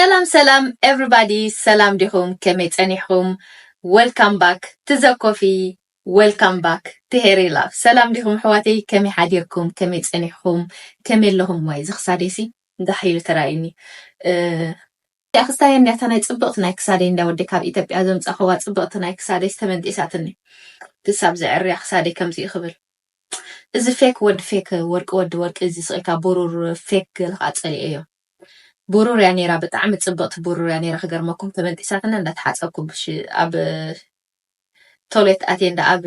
ሰላም ሰላም ኤቭሪባዲ ሰላም ዲኹም ከመይ ጸኒሕኹም ወልካም ባክ ትዘኮፊ ወልካም ባክ ትሄሪ ላቭ ሰላም ዲኹም ኣሕዋተይ ከመይ ሓዲርኩም ከመይ ጸኒሕኹም ከመይ ኣለኹም ዋይ እዚ ክሳደይሲ ጋሕ ኢሉ ተራእዩኒ እዚኣ ክስታይ እንድያ እታ ናይ ጽብቕቲ ናይ ክሳደይ እንዳ ወዲ ካብ ኢትዮጵያ ዘምጻኹዋ ጽብቕቲ ናይ ክሳደይ ዝተመንጢሳትኒ ክሳብ ዘዕርያ ክሳደይ ከምዚኡ ክብል እዚ ፌክ ወዲ ፌክ ወርቂ ወዲ ወርቂ እዚ ስቕኢልካ ብሩር ፌክ ገለ ከዓ ጸሊኤዮ ቡሩር እያ ነይራ ብጣዕሚ ጽብቅቲ ቡሩር እያ ነይራ ክገርመኩም ተበንጢሳትና እንዳ ተሓጸብኩ ብሽ ኣብ ቶሌት ኣቴ እንዳ ኣብ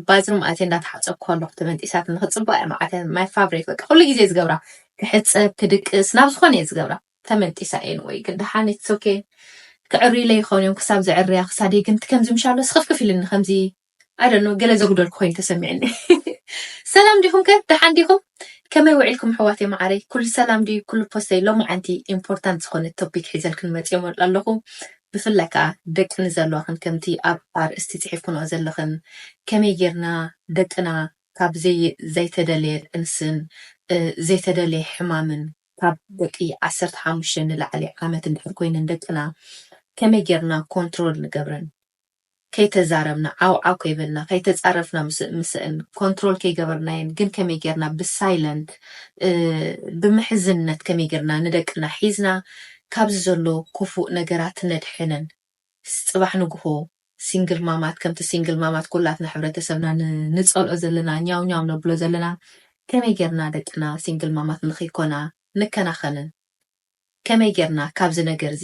ባዝሩም ኣቴ እንዳ ተሓጸብኩ ከለኩ ተበንጢሳትና ክጽብቅ እያ መዓት እያ ማይ ፋብሬት በቃ ኩሉ ግዜ ዝገብራ ክሕጸብ ክድቅስ ናብ ዝኮነ እየ ዝገብራ ተመንጢሳ እየን ወይ ግን ደሓን ኢትስ ኦኬ ክዕርዩለይ ይኮኑ እዮም ክሳብ ዝዕርያ ክሳደይ ግን ከምዚ ምሻሎ ስክፍክፍ ኢሉኒ ከምዚ ኣይ ዶንት ኖ ገለ ዘጉደልኩ ኮይኑ ተሰሚዕኒ። ሰላም ዲኹም ከ ደሓን ዲኹም ከመይ ውዒልኩም ኣሕዋተይ መዓረይ ኩሉ ሰላም ድዩ ኩሉ ፖስተይ ሎማዓንቲ ኢምፖርታንት ዝኾነ ቶፒክ ሒዘልክን መጽየ ኣለኹ ብፍላይ ከኣ ደቂ ንዘለዋኽን ከምቲ ኣብ ኣርእስቲ ጽሒፍክንኦ ዘለኽን ከመይ ጌርና ደቅና ካብ ዘይተደለየ ጥንስን ዘይተደለየ ሕማምን ካብ ደቂ ዓሰርተ ሓሙሽተ ንላዕሊ ዓመት እንድሕር ኮይነን ደቅና ከመይ ጌርና ኮንትሮል ንገብረን ከይተዛረብና ዓው ዓው ከይበልና ከይተጻረፍና ምስእን ኮንትሮል ከይገበርናየን ግን ከመይ ጌርና ብሳይለንት ብምሕዝነት ከመይ ጌርና ንደቅና ሒዝና ካብዚ ዘሎ ኩፉእ ነገራት ነድሕነን ጽባሕ ንግሆ ሲንግል ማማት ከምቲ ሲንግል ማማት ኩላትና ሕብረተሰብና ንጸልኦ ዘለና ኛው ኛው ነብሎ ዘለና ከመይ ጌርና ደቅና ሲንግል ማማት ንክይኮና ንከናኸንን ከመይ ጌርና ካብዚ ነገርዚ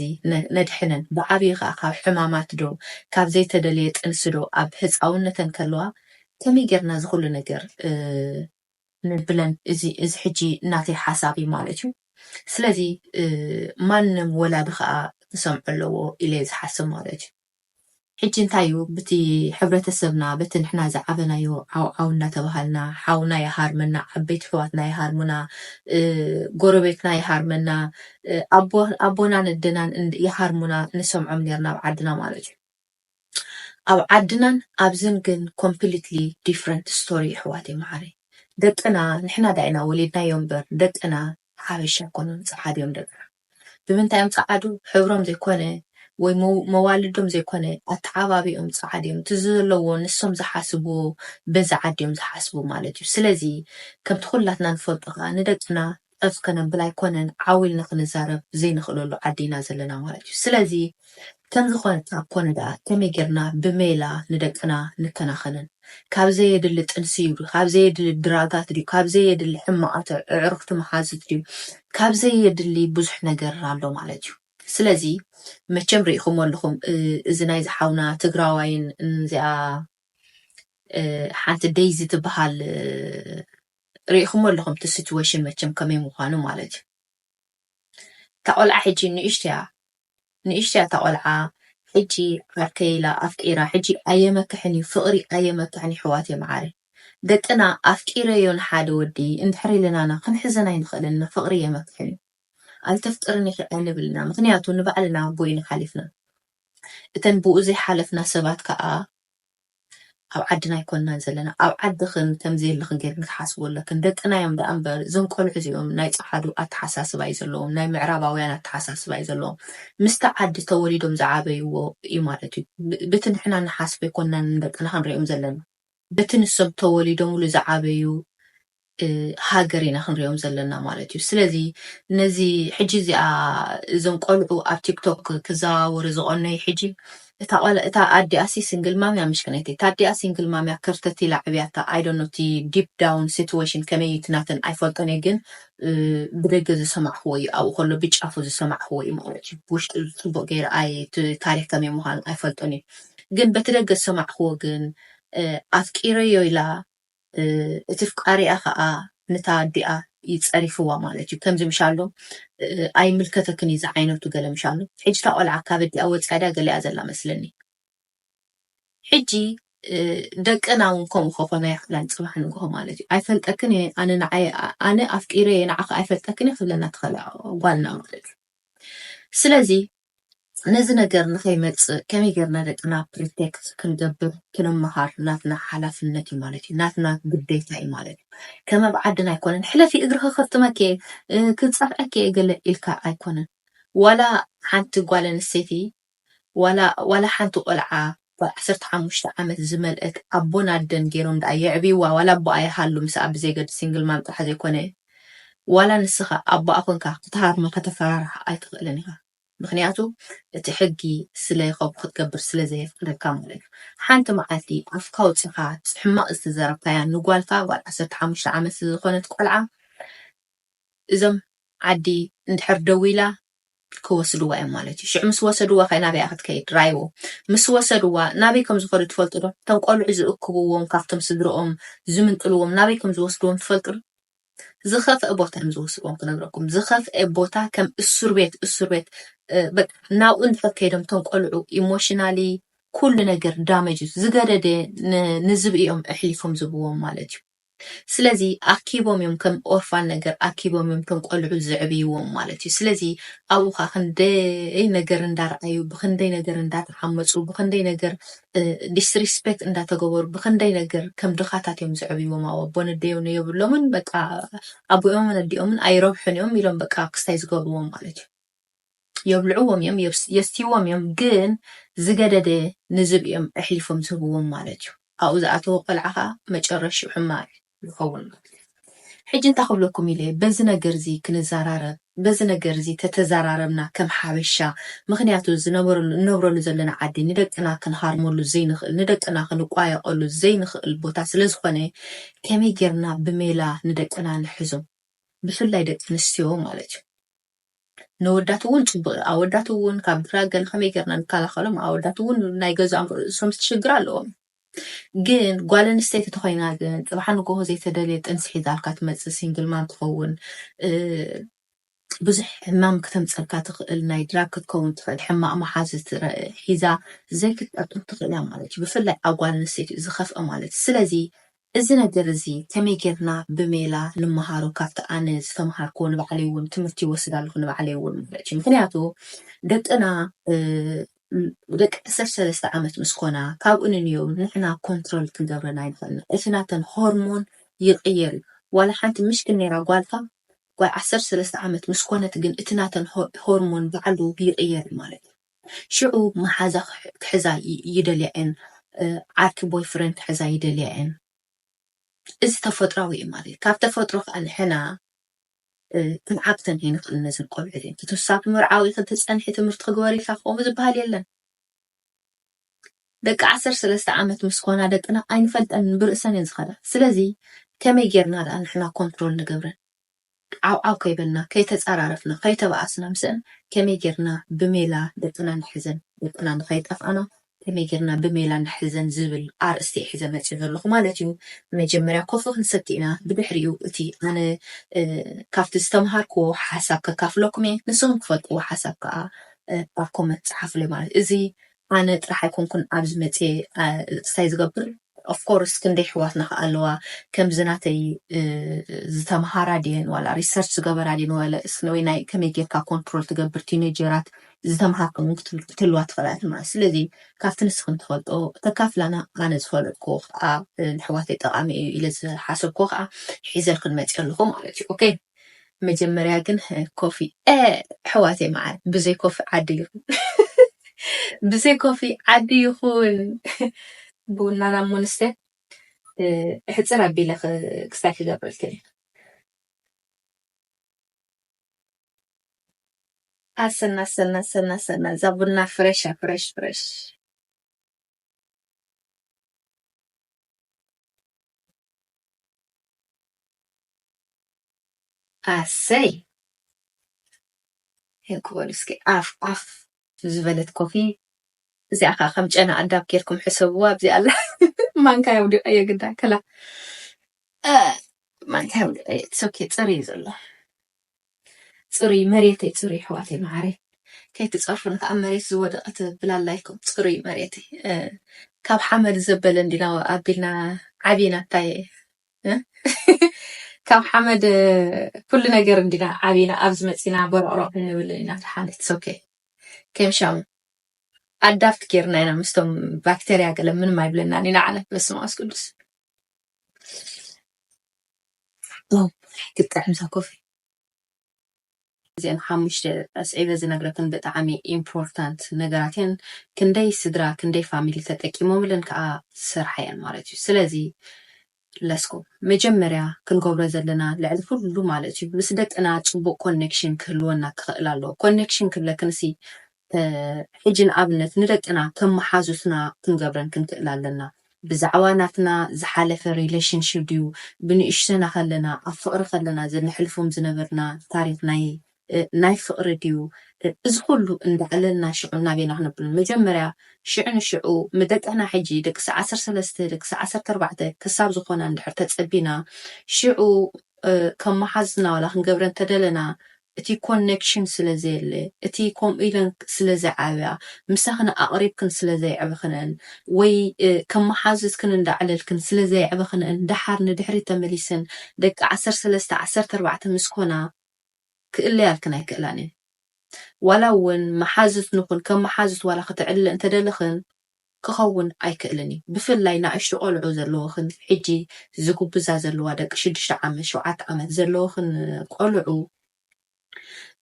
ነድሕነን ብዓብዩ ከኣ ካብ ሕማማት ዶ ካብ ዘይተደለየ ጥንሲ ዶ ኣብ ህጻውነተን ከለዋ ከመይ ጌርና እዚ ኩሉ ነገር ነብለን እዚ እዚ ሕጂ ናተይ ሓሳብ እዩ ማለት እዩ ስለዚ ማንም ወላዲ ከኣ ክሰምዖ ኣለዎ ኢለ እየ ዝሓስብ ማለት እዩ። ሕጂ እንታይ እዩ ብቲ ሕብረተሰብና በቲ ንሕና ዝዓበናዮ ዓው ዓው እንዳተባሃልና ሓውና ይሃርመና ዓበይቲ ኣሕዋትና ይሃርሙና ጎረቤትና ይሃርመና ኣቦ ኣቦናን ኣደናን ይሃርሙና ንሰምዖም ኔርና ኣብ ዓድና ማለት እዩ ኣብ ዓድናን ኣብዝን ግን ኮምፕሊትሊ ዲፍረንት ስቶሪ ኣሕዋተይ መዓረይ ደቅና ንሕና ዳኢና ወሊድናዮ እምበር ደቅና ሓበሻ ኣይኮኑን ጸዓዱ እዮም ደቅና ብምንታይ እዮም ጸዓዱ ሕብሮም ዘይኮነ ወይ መዋልዶም ዘይኮነ ኣተዓባብይኦም ጸዓዱ እዮም እቲ ዘለዎ ንሶም ዝሓስብዎ በዚ ዓዲ እዮም ዝሓስቡ ማለት እዩ ስለዚ ከምቲ ኩላትና ንፈልጦ ከኣ ንደቅና ጨፍ ከነብል ኣይኮነን ዓው ኢልና ክንዛረብ ዘይንኽእለሉ ዓዲ ኢና ዘለና ማለት እዩ ስለዚ ከምዚ እኳ እንተ ኰነ ደኣ፣ ከመይ ጌርና ብሜላ ንደቅና ንከናኸንን? ካብ ዘየድሊ ጥንሲ'ዩ ድዩ? ካብ ዘየድሊ ድራጋት ድዩ? ካብ ዘየድሊ ሕማቓት ኣዕሩኽቲ መሓዙት ድዩ? ካብ ዘየድሊ ብዙሕ ነገር ኣሎ ማለት'ዩ። ስለዚ መቸም ርኢኹሞ ኣለኹም እዚ ናይዚ ሓውና ትግራዋይን እዚኣ ሓንቲ ደይዚ ትበሃል ርኢኹሞ ኣለኹም እቲ ሲትወሽን መቸም ከመይ ምዃኑ ማለት'ዩ። እታ ቆልዓ ሕጂ ንእሽቶያ ንእሽቶያ እታ ቆልዓ ሕጂ ዓርከይ ኢላ ኣፍቂራ ሕጂ ኣየመክሕን እዩ ፍቅሪ ኣየመክሕን የሕዋተይ መዓረይ ደቅና ኣፍቂረዮ ንሓደ ወዲ እንድሕር ኢልናና ክንሕዘን ኣይንክእልን እና ፍቅሪ የመክሕን እዩ ኣይተፍቅርን ኢኪ ኣይንብል ኢና ምክንያቱ ንባዕልና ቦይና ሓሊፍና እተን ብኡ ዘይሓለፍና ሰባት ከኣ ኣብ ዓድና ኣይኮናን ዘለና ኣብ ዓድክን ከምዘየለክን ገርክን ክትሓስቡ ኣለክን ደቅና እዮም ደኣ እምበር እዞም ቆልዑ እዚኦም ናይ ጸዓዱ ኣተሓሳስባ እዩ ዘለዎም ናይ ምዕራባውያን ኣተሓሳስባ እዩ ዘለዎም ምስቲ ዓዲ ተወሊዶም ዝዓበይዎ እዩ ማለት እዩ ብቲ ንሕና ንሓስቦ ኣይኮናን ንደቅና ክንሪኦም ዘለና በቲ ንሶም ተወሊዶምሉ ዝዓበዩ ሃገር ኢና ክንሪኦም ዘለና ማለት እዩ ስለዚ ነዚ ሕጂ እዚኣ እዞም ቆልዑ ኣብ ቲክቶክ ክዘዋወሩ ዝቀነዩ ሕጂ እታ ቆል እታ ኣዲኣሲ ሲንግል ማም እያ ምሽክነይቲ እታ ኣዲኣ ሲንግል ማም እያ ከርተት ኢላ ዕብያታ ኣይ ዶንት ኖ እቲ ዲፕ ዳውን ሲትዌሽን ከመይ እዩ እቲ ናተን ኣይፈልጦን እየ ግን ብደገ ዝሰማዕክዎ እዩ ኣብኡ ከሎ ብጫፉ ዝሰማዕክዎ እዩ ማለት እዩ ብውሽጢ ፅቡቅ ገይረ ኣይ እቲ ታሪክ ከመይ ምኳኑ ኣይፈልጦን እዩ ግን በቲ ደገ ዝሰማዕክዎ ግን ኣፍቂረዮ ኢላ እቲ ፍቃሪኣ ከኣ ንታ ኣዲኣ እዩ ጸሪፍዋ ማለት እዩ ከምዚ ምሻሎ ኣይምልከተክን እዩ ዝዓይነቱ ገለ ምሻሎ ሕጂ እታ ቆልዓ ካብ ኣዲኣ ወጺኣ ድያ ገሊኣ ዘላ መስለኒ ሕጂ ደቅና እውን ከምኡ ከኾና ይኽእላን ጽባሕ ንግሆ ማለት እዩ ኣይፈልጠክን እየ ኣነ ንዓይ ኣነ ኣፍቂረ እየ ንዓኺ ኣይፈልጠክን እየ ክብለና ትኸላ ጓልና ማለት እዩ ስለዚ ነዚ ነገር ንከይመጽእ ከመይ ጌርና ደቅና ፕሪቴክት ክንገብር ክንመሃር ናትና ሓላፍነት እዩ ማለት እዩ ናትና ግዴታ እዩ ማለት እዩ ከም ኣብ ዓድና ኣይኮነን ሕለፊ እግርኺ ከፍጥመኪ እየ ክጸፍዐኪ እየ ገለ ኢልካ ኣይኮነን ዋላ ሓንቲ ጓል ኣንስተይቲ ዋላ ዋላ ሓንቲ ቆልዓ ጓል ዓሰርተ ሓሙሽተ ዓመት ዝመልእት ኣቦን ኣደን ጌሮም ድኣ የዕብይዋ ዋላ ኣቦኣ ይሃሉ ምስኣ ብዘይገድስ ሲንግል ማም ጥራሕ ዘይኮነ ዋላ ንስኻ ኣቦኣ ኮንካ ክትሃርማ ከተፈራርሓ ኣይትኽእልን ኢኻ ምኽንያቱ እቲ ሕጊ ስለ ከምኡ ክትገብር ስለ ዘየፍቅደካ ማለት እዩ ሓንቲ መዓልቲ ኣፍካ ኣውጺኻ ሕማቕ ዝተዘረብካያ ንጓልካ ጓል ዓሰርተ ሓሙሽተ ዓመት ዝኾነት ቆልዓ እዞም ዓዲ እንድሕር ደው ኢላ ክወስድዋ እዮም ማለት እዩ ሽዑ ምስ ወሰድዋ ከ ናበይ እያ ክትከይድ ራይዎ ምስ ወሰድዋ ናበይ ከም ዝኸዱ ትፈልጡ ዶ እቶም ቆልዑ ዝእክብዎም ካብቶም ስድርኦም ዝምንጥልዎም ናበይ ከም ዝወስድዎም ትፈልጡ ዶ ዝኸፍአ ቦታ እዮም ዝወስድዎም ክነግረኩም ዝኸፍአ ቦታ ከም እሱር ቤት እሱር ቤት ናብኡ እንድሕር ከይዶም እቶም ቆልዑ ኢሞሽናሊ ኩሉ ነገር ዳመጅ ዝገደደ ንዝብእኦም ኣሕሊፎም ዝብዎም ማለት እዩ ስለዚ ኣኪቦም እዮም ከም ኦርፋን ነገር ኣኪቦም እዮም እቶም ቆልዑ ዘዕብይዎም ማለት እዩ። ስለዚ ኣብኡ ከዓ ክንደይ ነገር እንዳርኣዩ ብክንደይ ነገር እንዳተሓመፁ ብክንደይ ነገር ዲስሪስፔክት እንዳተገበሩ ብክንደይ ነገር ከም ድኻታት እዮም ዘዕብይዎም ኣብ ኣቦን ኣደዮን የብሎምን በቃ ኣቦኦምን ኣዲኦምን ኣይረብሑን እዮም ኢሎም በቃ ክስታይ ዝገብርዎም ማለት እዩ። የብልዕዎም እዮም የስትይዎም እዮም ግን ዝገደደ ንዝብኢ እዮም ኣሕሊፎም ዝህብዎም ማለት እዩ ኣብኡ ዝኣተወ ቆልዓ ከኣ መጨረሽኡ ሕማቅ እዩ ዝከውን ማለት እዩ ሕጂ እንታይ ክብለኩም ኢለ በዚ ነገር እዚ ክንዘራረብ በዚ ነገር እዚ ተተዘራረብና ከም ሓበሻ ምክንያቱ ዝነበረሉ እንነብረሉ ዘለና ዓዲ ንደቅና ክንሃርመሉ ዘይንክእል ንደቅና ክንቋየቀሉ ዘይንክእል ቦታ ስለ ዝኮነ ከመይ ጌርና ብሜላ ንደቅና ንሕዞም ብፍላይ ደቂ ኣንስትዮ ማለት እዩ ነወዳት እውን ፅቡቅ እዩ ኣወዳት እውን ካብ ድራገን ከመይ ገርና ንከላከሎም ኣወዳት እውን ናይ ገዛኦም ርእሶም ሽግር ኣለዎም ግን ጓል ኣንስተይቲ ተኮይና ግን ፅባሕ ንጎሆ ዘይተደልየ ጥንሲ ሒዛልካ ትመፅእ ሲንግል ማም ትኸውን ብዙሕ ሕማም ክተምፀልካ ትኽእል ናይ ድራግ ክትከውን ትኽእል ሕማቅ መሓዝ ሒዛ ዘይክትጠቅም ትኽእል እያ ማለት እዩ ብፍላይ ኣብ ጓል ኣንስተይቲ እዩ ዝኸፍአ ማለት እዩ ስለዚ እዚ ነገር እዚ ከመይ ጌርና ብሜላ ንመሃሮ ካብቲ ኣነ ዝተምሃርክዎ ንባዕለይ ውን ትምህርቲ ይወስድ ኣለኩ ንባዕለይ ውን ማለት እዩ ምክንያቱ ደቅና ደቂ ዓሰርተ ሰለስተ ዓመት ምስ ኮና ካብኡ ንንዮው ንሕና ኮንትሮል ክንገብረን ኣይንክእልን እቲ ናተን ሆርሞን ይቅየር እዩ ዋላ ሓንቲ ምሽክን ኔራ ጓልካ ጓል ዓሰርተ ሰለስተ ዓመት ምስ ኮነት ግን እቲ ናተን ሆርሞን ባዕሉ ይቅየር እዩ ማለት እዩ። ሽዑ መሓዛ ክሕዛ ይደልያ እየን፣ ዓርኪ ቦይ ፍረንድ ክሕዛ ይደልያ እየን። እዚ ተፈጥራዊ እዩ ማለት እዩ። ካብ ተፈጥሮ ከኣ ንሕና ክንዓግተን ከይንኽእል ነዝን ቆልዑ እዚን ክትሳ ብምርዓው ኢኺ ትጸንሒ ትምህርቲ ክግበር ኢልካ ከምኡ ዝበሃል የለን። ደቂ ዓሰርተ ሰለስተ ዓመት ምስ ኮና ደቅና ኣይንፈልጠንን ብርእሰን እየን ዝኸዳ። ስለዚ ከመይ ጌርና ደኣ ንሕና ኮንትሮል ንገብረን? ዓውዓው ከይበልና፣ ከይተጻራረፍና፣ ከይተባኣስና ምስኣን ከመይ ጌርና ብሜላ ደቅና ንሕዘን፣ ደቅና ንኸይጠፍኣና ከመይ ጌርና ብሜላ ንሕዘን ዝብል ኣርእስቲ'የ ሒዘ መጺኡ ዘለኹ ማለት'ዩ። መጀመርያ ኮፊ ክንሰቲ ኢና፣ ብድሕሪኡ እቲ ኣነ ካብቲ ዝተመሃርክዎ ሓሳብ ከካፍለኩም'የ፣ ንስኹም ትፈልጥዎ ሓሳብ ከኣ ኣብ ኮመንት ጽሓፉለይ ማለት እዩ። እዚ ኣነ ጥራሕ ኣይኮንኩን ኣብዚ መጽየ እቅስቃሴ ዝገብር of course ክንደይ ኣሕዋትና ከኣ ኣለዋ ከምዚ ናተይ ዝተምሃራ ድየን ዋላ research ዝገበራ ድየን ወለ ወይ ናይ ከመይ ጌርካ control ትገብር ቲነጀራት ዝተምሃርክን ውን ክትህልዋ ትኽእላ ኢኹም ማለት ስለዚ ካብቲ ንስኽን ትፈልጦ ተካፍላና ኣነ ዝፈለጥክዎ ከኣ ንኣሕዋተይ ጠቃሚ እዩ ኢለ ዝሓሰብክዎ ከኣ ሒዘልክን መጽየ ኣለኹ ማለት እዩ ኦኬ መጀመርያ ግን ኮፊ ኣሕዋተይ መዓር ብዘይ ኮፊ ዓዲ ይኹን ብዘይ ኮፊ ዓዲ ይኹን ቡናና ሙንስተ ሕፅር ኣቢለ ክስታይ ክገብረልክን እዩ ኣሰና ኣሰና ኣሰና ኣሰና እዛ ቡና ፍረሻ ፍረሽ ፍረሽ ኣሰይ ሄው ክበሉ እስኪ ዓፍ ዓፍ ዝበለት ኮፊ እዚኣ ከዓ ከም ጨና ኣዳብ ጌርኩም ሕሰብዋ ኣብዚኣ ኣላ ማንካ የውዲቀዮ ግዳ ከላ ማንካ የውዲቀዮ ትሰኪ ፅር እዩ ዘሎ ፅሩይ መሬተይ ፅሩይ ኣሕዋተይ ማዓረይ ከይትፀርፉን ካዓ መሬት ዝወደቀ ትብል ኣላ ኢልኩም ፅሩይ መሬተይ ካብ ሓመድ ዘበለ እንዲና ኣቢልና ዓቢና እታይ ካብ ሓመድ ኩሉ ነገር እንዲና ዓቢና ኣብዚ መፂና ቦሮቅሮቅ እንብል ኢና ተሓነት ሶኬ ከምሻሙ ኣዳፍት ጌርና ኢና ምስቶም ባክተርያ ገለ ምንም ኣይብለናን ኢና ዓለ በስመ ኣብ ቅዱስ ዋው ክትጥዕም እዛ ኮፊ እዚኤን ሓሙሽተ ኣስዒበ ዝነግረክን ብጣዕሚ ኢምፖርታንት ነገራት እየን ክንደይ ስድራ ክንደይ ፋሚሊ ተጠቂሞምለን ከዓ ዝሰርሓ እየን ማለት እዩ ስለዚ ለስኩ መጀመርያ ክንገብሮ ዘለና ልዕሊ ኩሉ ማለት እዩ ምስ ደቅና ፅቡቅ ኮኔክሽን ክህልወና ክኽእል ኣለዎ ኮኔክሽን ክብለክንሲ ሕጂ ንኣብነት ንደቅና ከም መሓዙትና ክንገብረን ክንክእል ኣለና። ብዛዕባ ናትና ዝሓለፈ ሪለሽንሺ ድዩ ብንእሽቶና ከለና ኣብ ፍቅሪ ከለና ዘነሕልፎም ዝነበርና ታሪክ ናይ ናይ ፍቅሪ ድዩ እዚ ኩሉ እንዳዕለልና ሽዑ ናበይና ክነብል መጀመርያ ሽዑ ንሽዑ ምደቅና ሕጂ ደቅሲ ዓሰርተ ሰለስተ ደቅሲ ዓሰርተ ኣርባዕተ ክሳብ ዝኮና እንድሕር ተጸቢና ሽዑ ከም መሓዙትና ዋላ ክንገብረን ተደለና እቲ ኮነክሽን ስለ ዘየለ፣ እቲ ከምኡ ኢለን ስለ ዘይዓብያ፣ ምሳኽን ኣቕሪብክን ስለ ዘየዕበኽንኤን ወይ ከም መሓዙትክን እንዳዕለልክን ስለ ዘየዕበኽንኤን ደሓር ንድሕሪት ተመሊሰን ደቂ ዓሰርተ ሰለስተ ዓሰርተ ኣርባዕተ ምስ ኮና ክእለያልክን ኣይክእላን እየን። ዋላ እውን መሓዙት ንኹን ከም መሓዙት ዋላ ክተዕልለ እንተደለኽን፣ ክኸውን ኣይክእልን እዩ ብፍላይ ናእሽቱ ቆልዑ ዘለወኽን ሕጂ ዝጉብዛ ዘለዋ ደቂ ሽዱሽተ ዓመት ሸውዓተ ዓመት ዘለወኽን ቆልዑ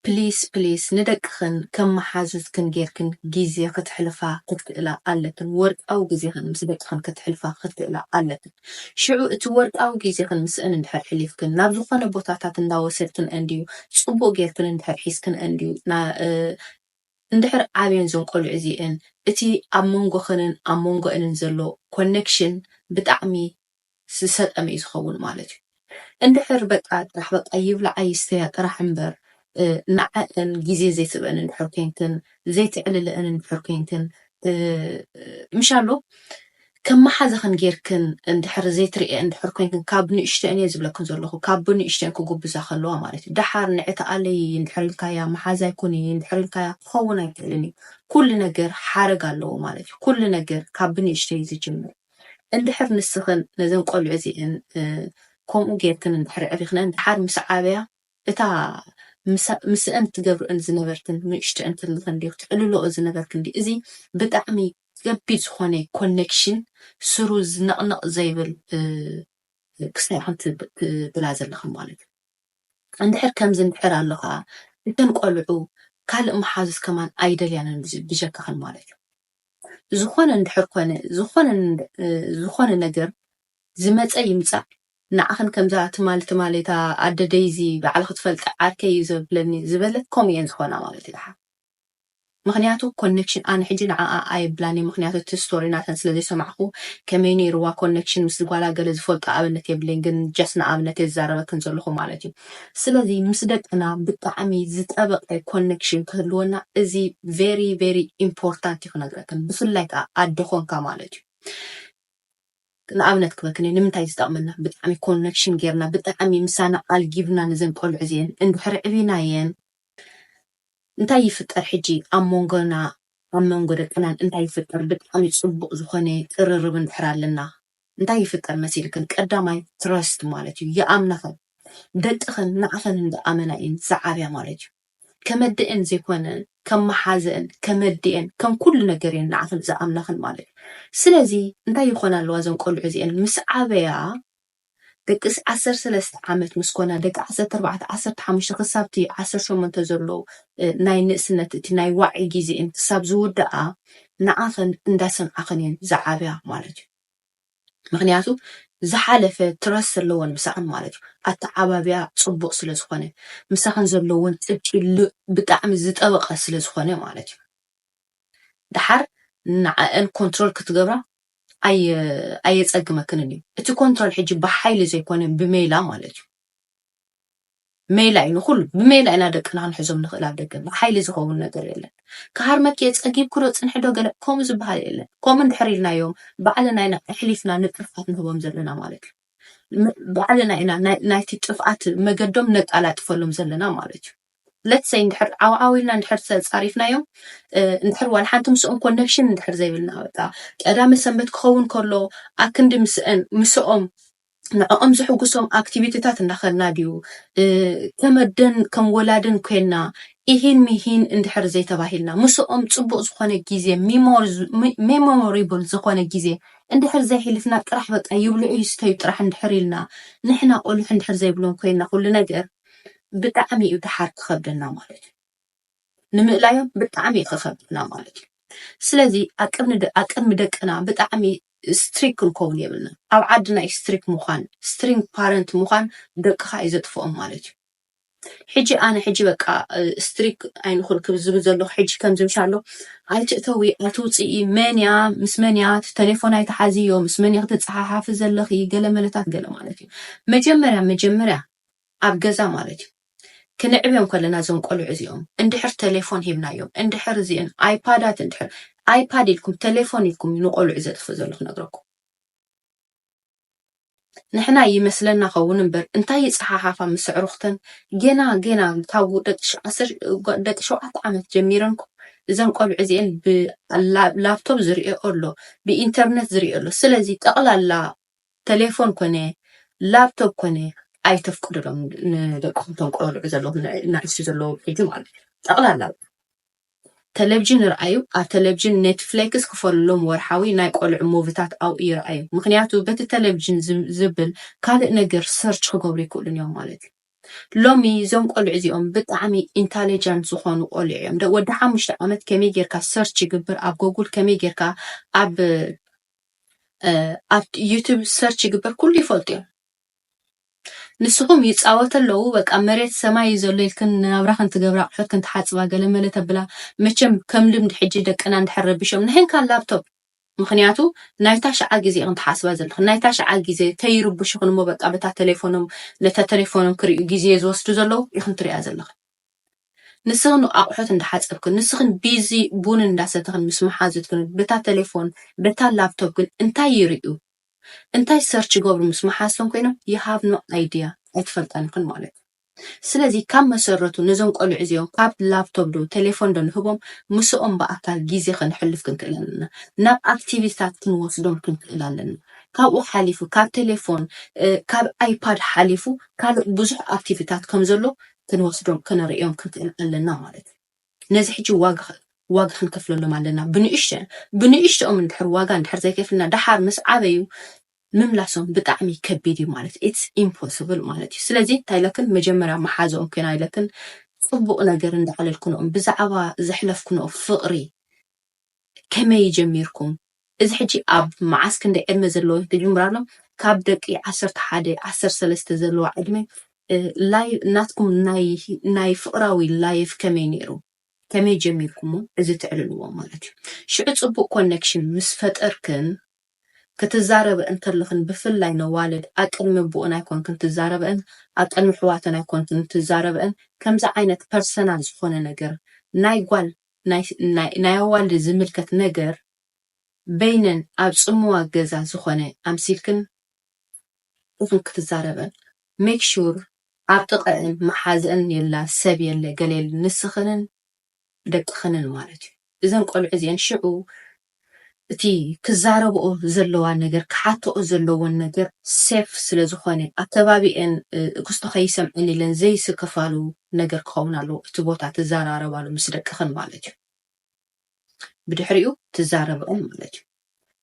ፕሊስ ፕሊስ ንደቅኽን ከም መሓዙትክን ጌርክን ግዜ ክትሕልፋ ክትክእላ ኣለክን ወርቃዊ ግዜኽን ምስ ደቅኽን ክትሕልፋ ክትክእላ ኣለክን ሽዑ እቲ ወርቃዊ ግዜኽን ምስእን እንድሕር ሕሊፍክን ናብ ዝኾነ ቦታታት እንዳወሰድክንእን ድዩ ጽቡቅ ጌርክን እንድሕር ሒዝክንእን ድዩ እንድሕር ዓብየን እዞን ቆልዑ እዚኤን እቲ ኣብ መንጎኽንን ኣብ መንጎኤንን ዘሎ ኮነክሽን ብጣዕሚ ዝሰጠመ እዩ ዝኸውን ማለት እዩ እንድሕር በቃ ጥራሕ በቃ ይብላዓ ይስተያ ጥራሕ እምበር ንዐኣን ግዜ ዘይትህበእን እንድሕር ኮይንክን ዘይትዕልለእን እንድሕር ኮይንክን ምሻሎ ከም መሓዛኽን ጌርክን እንድሕር ዘይትርእየን እንድሕር ኮይንክን ካብ ንእሽተን እየ ዝብለክን ዘለኹ ካብ ብንእሽተን ክጉብዛ ከለዋ ማለት እዩ ደሓር ንዒ ተኣለዪ እንድሕር ኢልካያ መሓዛይ ኩኒ እንድሕር ኢልካያ ክኸውን ኣይክእልን እዩ ኩሉ ነገር ሓረግ ኣለዎ ማለት እዩ ኩሉ ነገር ካብ ብንእሽተይ እዩ ዝጅምር እንድሕር ንስኽን ነዘን ቆልዑ እዚኤን ከምኡ ጌርክን እንድሕር ኣዕቢኽነን ደሓር ምስ ዓበያ እታ ምስእን ትገብርእን ዝነበርክን ንእሽተእን ክልኽን ዲዩ ክትዕልልኦ ዝነበርክን ዲዩ እዚ ብጣዕሚ ከቢድ ዝኾነ ኮነክሽን ስሩ ነቕነቕ ዘይብል ክስታይ ኢኹም ትብላ ዘለኽን ማለት እዩ እንድሕር ከምዚ እንድሕር ኣሎ ኸኣ እተን ቆልዑ ካልእ መሓዙት ከማን ኣይደልያንን ብጀካኽን ማለት እዩ ዝኾነ እንድሕር ኮነ ዝኾነ ነገር ዝመጸ ይምጻእ ንዓኽን ከምዛ ትማል ትማል እታ ኣደ ደይዚ ባዕላ ክትፈልጣ ዓርከይ እዩ ዘብለኒ ዝበለት ከምኡ እየን ዝኾና ማለት እዩ ደሓር ምኽንያቱ ኮነክሽን ኣነ ሕጂ ንዓኣ ኣየብላን እየ ምኽንያቱ እቲ ስቶሪ ናተን ስለ ዘይሰማዕኩ ከመይ ነይርዋ ኮነክሽን ምስ ጓላ ገለ ዝፈልጦ ኣብነት የብለይን ግን ጃስ ንኣብነት እየ ዝዛረበክን ዘለኹ ማለት እዩ ስለዚ ምስ ደቅና ብጣዕሚ ዝጠበቀ ኮነክሽን ክህልወና እዚ ቨሪ ቨሪ ኢምፖርታንት ዩ ክነግረክን ብፍላይ ከኣ ኣደ ኮንካ ማለት ዩ ንኣብነት ክበክኒ ንምንታይ ዝጠቅመና ብጣዕሚ ኮነክሽን ጌርና ብጣዕሚ ምሳና ኣልጊብና ነዘን ቆልዑ እዚኤን እንድሕሪ ዕቢናየን እንታይ ይፍጠር ሕጂ ኣብ ሞንጎና ኣብ መንጎ ደቅናን እንታይ ይፍጠር ብጣዕሚ ጽቡቅ ዝኮነ ቅርርብ እንድሕር ኣለና እንታይ ይፍጠር መሲልክን ቀዳማይ ትረስት ማለት እዩ ይኣምናኽን ደቅኽን ንዓኽን እንዳ ኣመና እየን ዝዓብያ ማለት እዩ ከመደኤን ዘይኮነ ከም ማሓዘኤን ከመዲኤን ከም ኩሉ ነገር እየን ንዓኽን ዝኣምናኽን ማለት እዩ ስለዚ እንታይ ይኾና ኣለዋ እዘን ቆልዑ እዚኤን ምስ ዓበያ ደቂ ዓሰርተ ሰለስተ ዓመት ምስ ኮና ደቂ ዓሰርተ ኣርባዕተ ዓሰርተ ሓሙሽተ ክሳብ እቲ ዓሰርተ ሸሞንተ ዘሎ ናይ ንእስነት እቲ ናይ ዋዒ ግዜኤን ክሳብ ዝውዳኣ ንዓኽን እንዳሰምዓኽን እየን ዝዓብያ ማለት እዩ ምኽንያቱ ዝሓለፈ ትረስት ኣለወን ምሳኽን ማለት እዩ ኣተዓባብያ ፅቡቅ ስለ ዝኾነ ምሳኽን ዘለወን ፅብቂ ብጣዕሚ ዝጠበቀ ስለ ዝኾነ ማለት እዩ ዳሓር ንዓኣን ኮንትሮል ክትገብራ ኣየፀግመክንን እዩ እቲ ኮንትሮል ሕጂ ብሓይሊ ዘይኮነ ብሜላ ማለት እዩ። ሜላ እዩ ንኩሉ ብሜላ ኢና ደቅና ክንሕዞም ንኽእል ኣብ ደገ ብሓይሊ ዝኸውን ነገር የለን ክሃርመኪ እየ ጸጊብኪ ዶ ጽንሒ ዶ ገለ ከምኡ ዝበሃል የለን ከምኡ እንድሕር ኢልናዮም ባዕልና ኢና ኣሕሊፍና ንጥርፋት ንህቦም ዘለና ማለት እዩ ባዕልና ኢና ናይቲ ጥፍኣት መገዶም ነቃላጥፈሎም ዘለና ማለት እዩ ለትሰይ እንድሕር ዓውዓው ኢልና እንድሕር ተጻሪፍናዮም እንድሕር ዋላ ሓንቲ ምስኦም ኮነክሽን እንድሕር ዘይብልና በቃ ቀዳመ ሰንበት ክኸውን ከሎ ኣክንዲ ምስኦም ንዕኦም ዝሕጉሶም ኣክቲቪቲታት እንዳኸድና ድዩ ከም ኣደን ከም ወላድን ኮይና ኢሂን ሚሂን እንድሕር ዘይተባሂልና ምስኦም ፅቡቕ ዝኾነ ግዜ ሜሞሪብል ዝኾነ ግዜ እንድሕር ዘይሕልፍና ጥራሕ በቃ ይብልዑ ይስተዩ ጥራሕ እንድሕር ኢልና ንሕና ቆልዑ እንድሕር ዘይብሎም ኮይና ኩሉ ነገር ብጣዕሚ እዩ ደሓር ክኸብደና ማለት እዩ። ንምእላዮም ብጣዕሚ ኽከብደና ማለት እዩ ስለዚ ኣቅድሚ ደቅና ብጣዕሚ ስትሪክ ክንከውን የብልናን ኣብ ዓድና እዩ ስትሪክ ምኳን ስትሪንግ ፓረንት ምኳን ደቅካ እዩ ዘጥፍኦም ማለት እዩ ሕጂ ኣነ ሕጂ በቃ ስትሪክ ኣይንኹን ክብ ዝብል ዘለኹ ሕጂ ከምዚ ምሻ ኣሎ ኣይትእተዊ ኣይትውፅኢ መንያ ምስ መንያ ቴሌፎን ኣይትሓዝዮ ምስ መንያ ክትፀሓሓፊ ዘለኺ ገለ መለታት ገለ ማለት እዩ መጀመርያ መጀመርያ ኣብ ገዛ ማለት እዩ ክንዕብዮም ከለና እዞም ቆልዑ እዚኦም እንድሕር ተሌፎን ሂብናዮም እንድሕር እዚእን ኣይፓዳት እንድሕር ኣይፓድ ኢልኩም ተሌፎን ኢልኩም እዩ ንቆልዑ ዘጥፍእ ዘሎ ክነግረኩም ንሕና ይመስለና ከውን እምበር እንታይ ይፀሓሓፋ ምስ ኣዕሩኽተን ጌና ጌና ካብ ደቂ ሸውዓተ ዓመት ጀሚረን እዘን ቆልዑ እዚአን ብላፕቶፕ ዝሪኦ ኣሎ ብኢንተርነት ዝሪኦ ኣሎ ስለዚ ጠቕላላ ተሌፎን ኮነ ላብቶብ ኮነ ኣይተፍቅዱሎም ንደቅኹም እቶም ቆልዑ ዘለኹም ናእሽቱ ዘለዉ ብሒጂ ማለት እዩ ጠቕላላ ተለቭዥን ይርኣዩ ኣብ ተለቭዥን ኔትፍሌክስ ክፈሉሎም ወርሓዊ ናይ ቆልዑ ሙቪታት ኣብኡ ይርኣዩ ምክንያቱ በቲ ተለቭዥን ዝብል ካልእ ነገር ሰርች ክገብሩ ይክእሉን እዮም ማለት እዩ ሎሚ እዞም ቆልዑ እዚኦም ብጣዕሚ ኢንታሊጀንት ዝኾኑ ቆልዑ እዮም ወዲ ሓሙሽተ ዓመት ከመይ ጌርካ ሰርች ይግብር ኣብ ጎጉል ከመይ ጌርካ ኣብ ኣብ ዩቱብ ሰርች ይግበር ኩሉ ይፈልጡ እዮም ንስኹም ይፃወተ ኣለዉ በቃ መሬት ሰማይ እዩ ዘሎ ኢልክን ናብራኽን ትገብራ ኣቑሑት ክን ትሓፅባ ገለመለ ተብላ መቸም ከም ልምዲ ሕጂ ደቅና እንድሕር ረቢሾም ንሕንካ ላፕቶፕ ምክንያቱ ናይ ታሽዓ ግዜ ኢኽን ትሓስባ ዘለኹ ናይ ታሽዓ ግዜ ከይርብሹኽን እሞ በቃ በታ ቴሌፎኖም ነታ ቴሌፎኖም ክርእዩ ግዜ ዝወስዱ ዘለዉ ኢኽን ትሪኣ ዘለኹ ንስኽን ኣቑሑት እንዳሓፀብክን፣ ንስኽን ቢዚ ቡን እንዳሰተኽን ምስ መሓዙትክን በታ ተሌፎን በታ ላፕቶፕ ግን እንታይ ይሪኡ እንታይ ሰርች ይገብሩ ምስ መሓዝቶም ኮይኖም you have no idea ኣይትፈልጠንክን ማለት እዩ። ስለዚ ካብ መሰረቱ ነዞም ቆልዑ እዚኦም ካብ ላፕቶፕ ዶ ተሌፎን ዶ ንህቦም ምስኦም ብኣካል ጊዜ ከነሕልፍ ክንክእል ኣለና። ናብ ኣክቲቪቲታት ክንወስዶም ክንክእል ኣለና። ካብኡ ሓሊፉ ካብ ተሌፎን ካብ ኣይፓድ ሓሊፉ ካልእ ብዙሕ ኣክቲቪቲታት ከም ዘሎ ክንወስዶም ከነርእዮም ክንክእል ኣለና ማለት እዩ። ነዚ ሕጂ ዋጋ ዋጋ ክንከፍለሎም ኣለና ብንእሽተ ብንእሽተኦም እንድሕር ዋጋ እንድሕር ዘይከፍልና ደሓር ምስ ዓበዩ ምምላሶም ብጣዕሚ ከቢድ እዩ ማለት ኢትስ ኢምፖስብል ማለት እዩ። ስለዚ እንታይ ኢለክን መጀመርያ መሓዝኦም ኮይና ኢለክን ጽቡቕ ነገር እንዳዕለልክንኦም ብዛዕባ ዘሕለፍክንኦ ፍቕሪ ከመይ ጀሚርኩም እዚ ሕጂ ኣብ መዓስ ክንደይ ዕድመ ዘለዎም ትጅምራሎም ካብ ደቂ ዓሰርተ ሓደ ዓሰርተ ሰለስተ ዘለዋ ዕድመ ላይ ናትኩም ናይ ናይ ፍቅራዊ ላይፍ ከመይ ነይሩ ከመይ ጀሚርኩሞ እዚ ትዕልልዎ ማለት እዩ ሽዑ ጽቡቅ ኮኔክሽን ምስ ፈጠርክን ክትዛረበ እንተለኽን ብፍላይ ነዋልድ ኣቅድሚ ቡኡን ኣይኮንክን ትዛረበን ኣቅድሚ ሕዋተን ኣይኮንክን ትዛረበን ከምዚ ዓይነት ፐርሰናል ዝኾነ ነገር ናይ ጓል ናይ ኣዋልድ ዝምልከት ነገር በይነን ኣብ ጽምዋ ገዛ ዝኾነ ኣምሲልክን ኢኽን ክትዛረበን make sure ኣብ ጥቐእን መሓዝእን የላ ሰብ የለ ገለ የለ ንስኽንን ደቅኽንን ማለት እዩ እዘን ቆልዑ እዚኤን ሽዑ እቲ ክዛረብኦ ዘለዋ ነገር ክሓተኦ ዘለወን ነገር ሴፍ ስለ ዝኾነ ኣብ ከባቢኤን እክስቶ ከይሰምዐን ኢለን ዘይስከፋሉ ነገር ክኸውን ኣለዎ እቲ ቦታ ትዛራረባሉ ምስ ደቅኽን ማለት እዩ ብድሕሪኡ ትዛረብኦን ማለት እዩ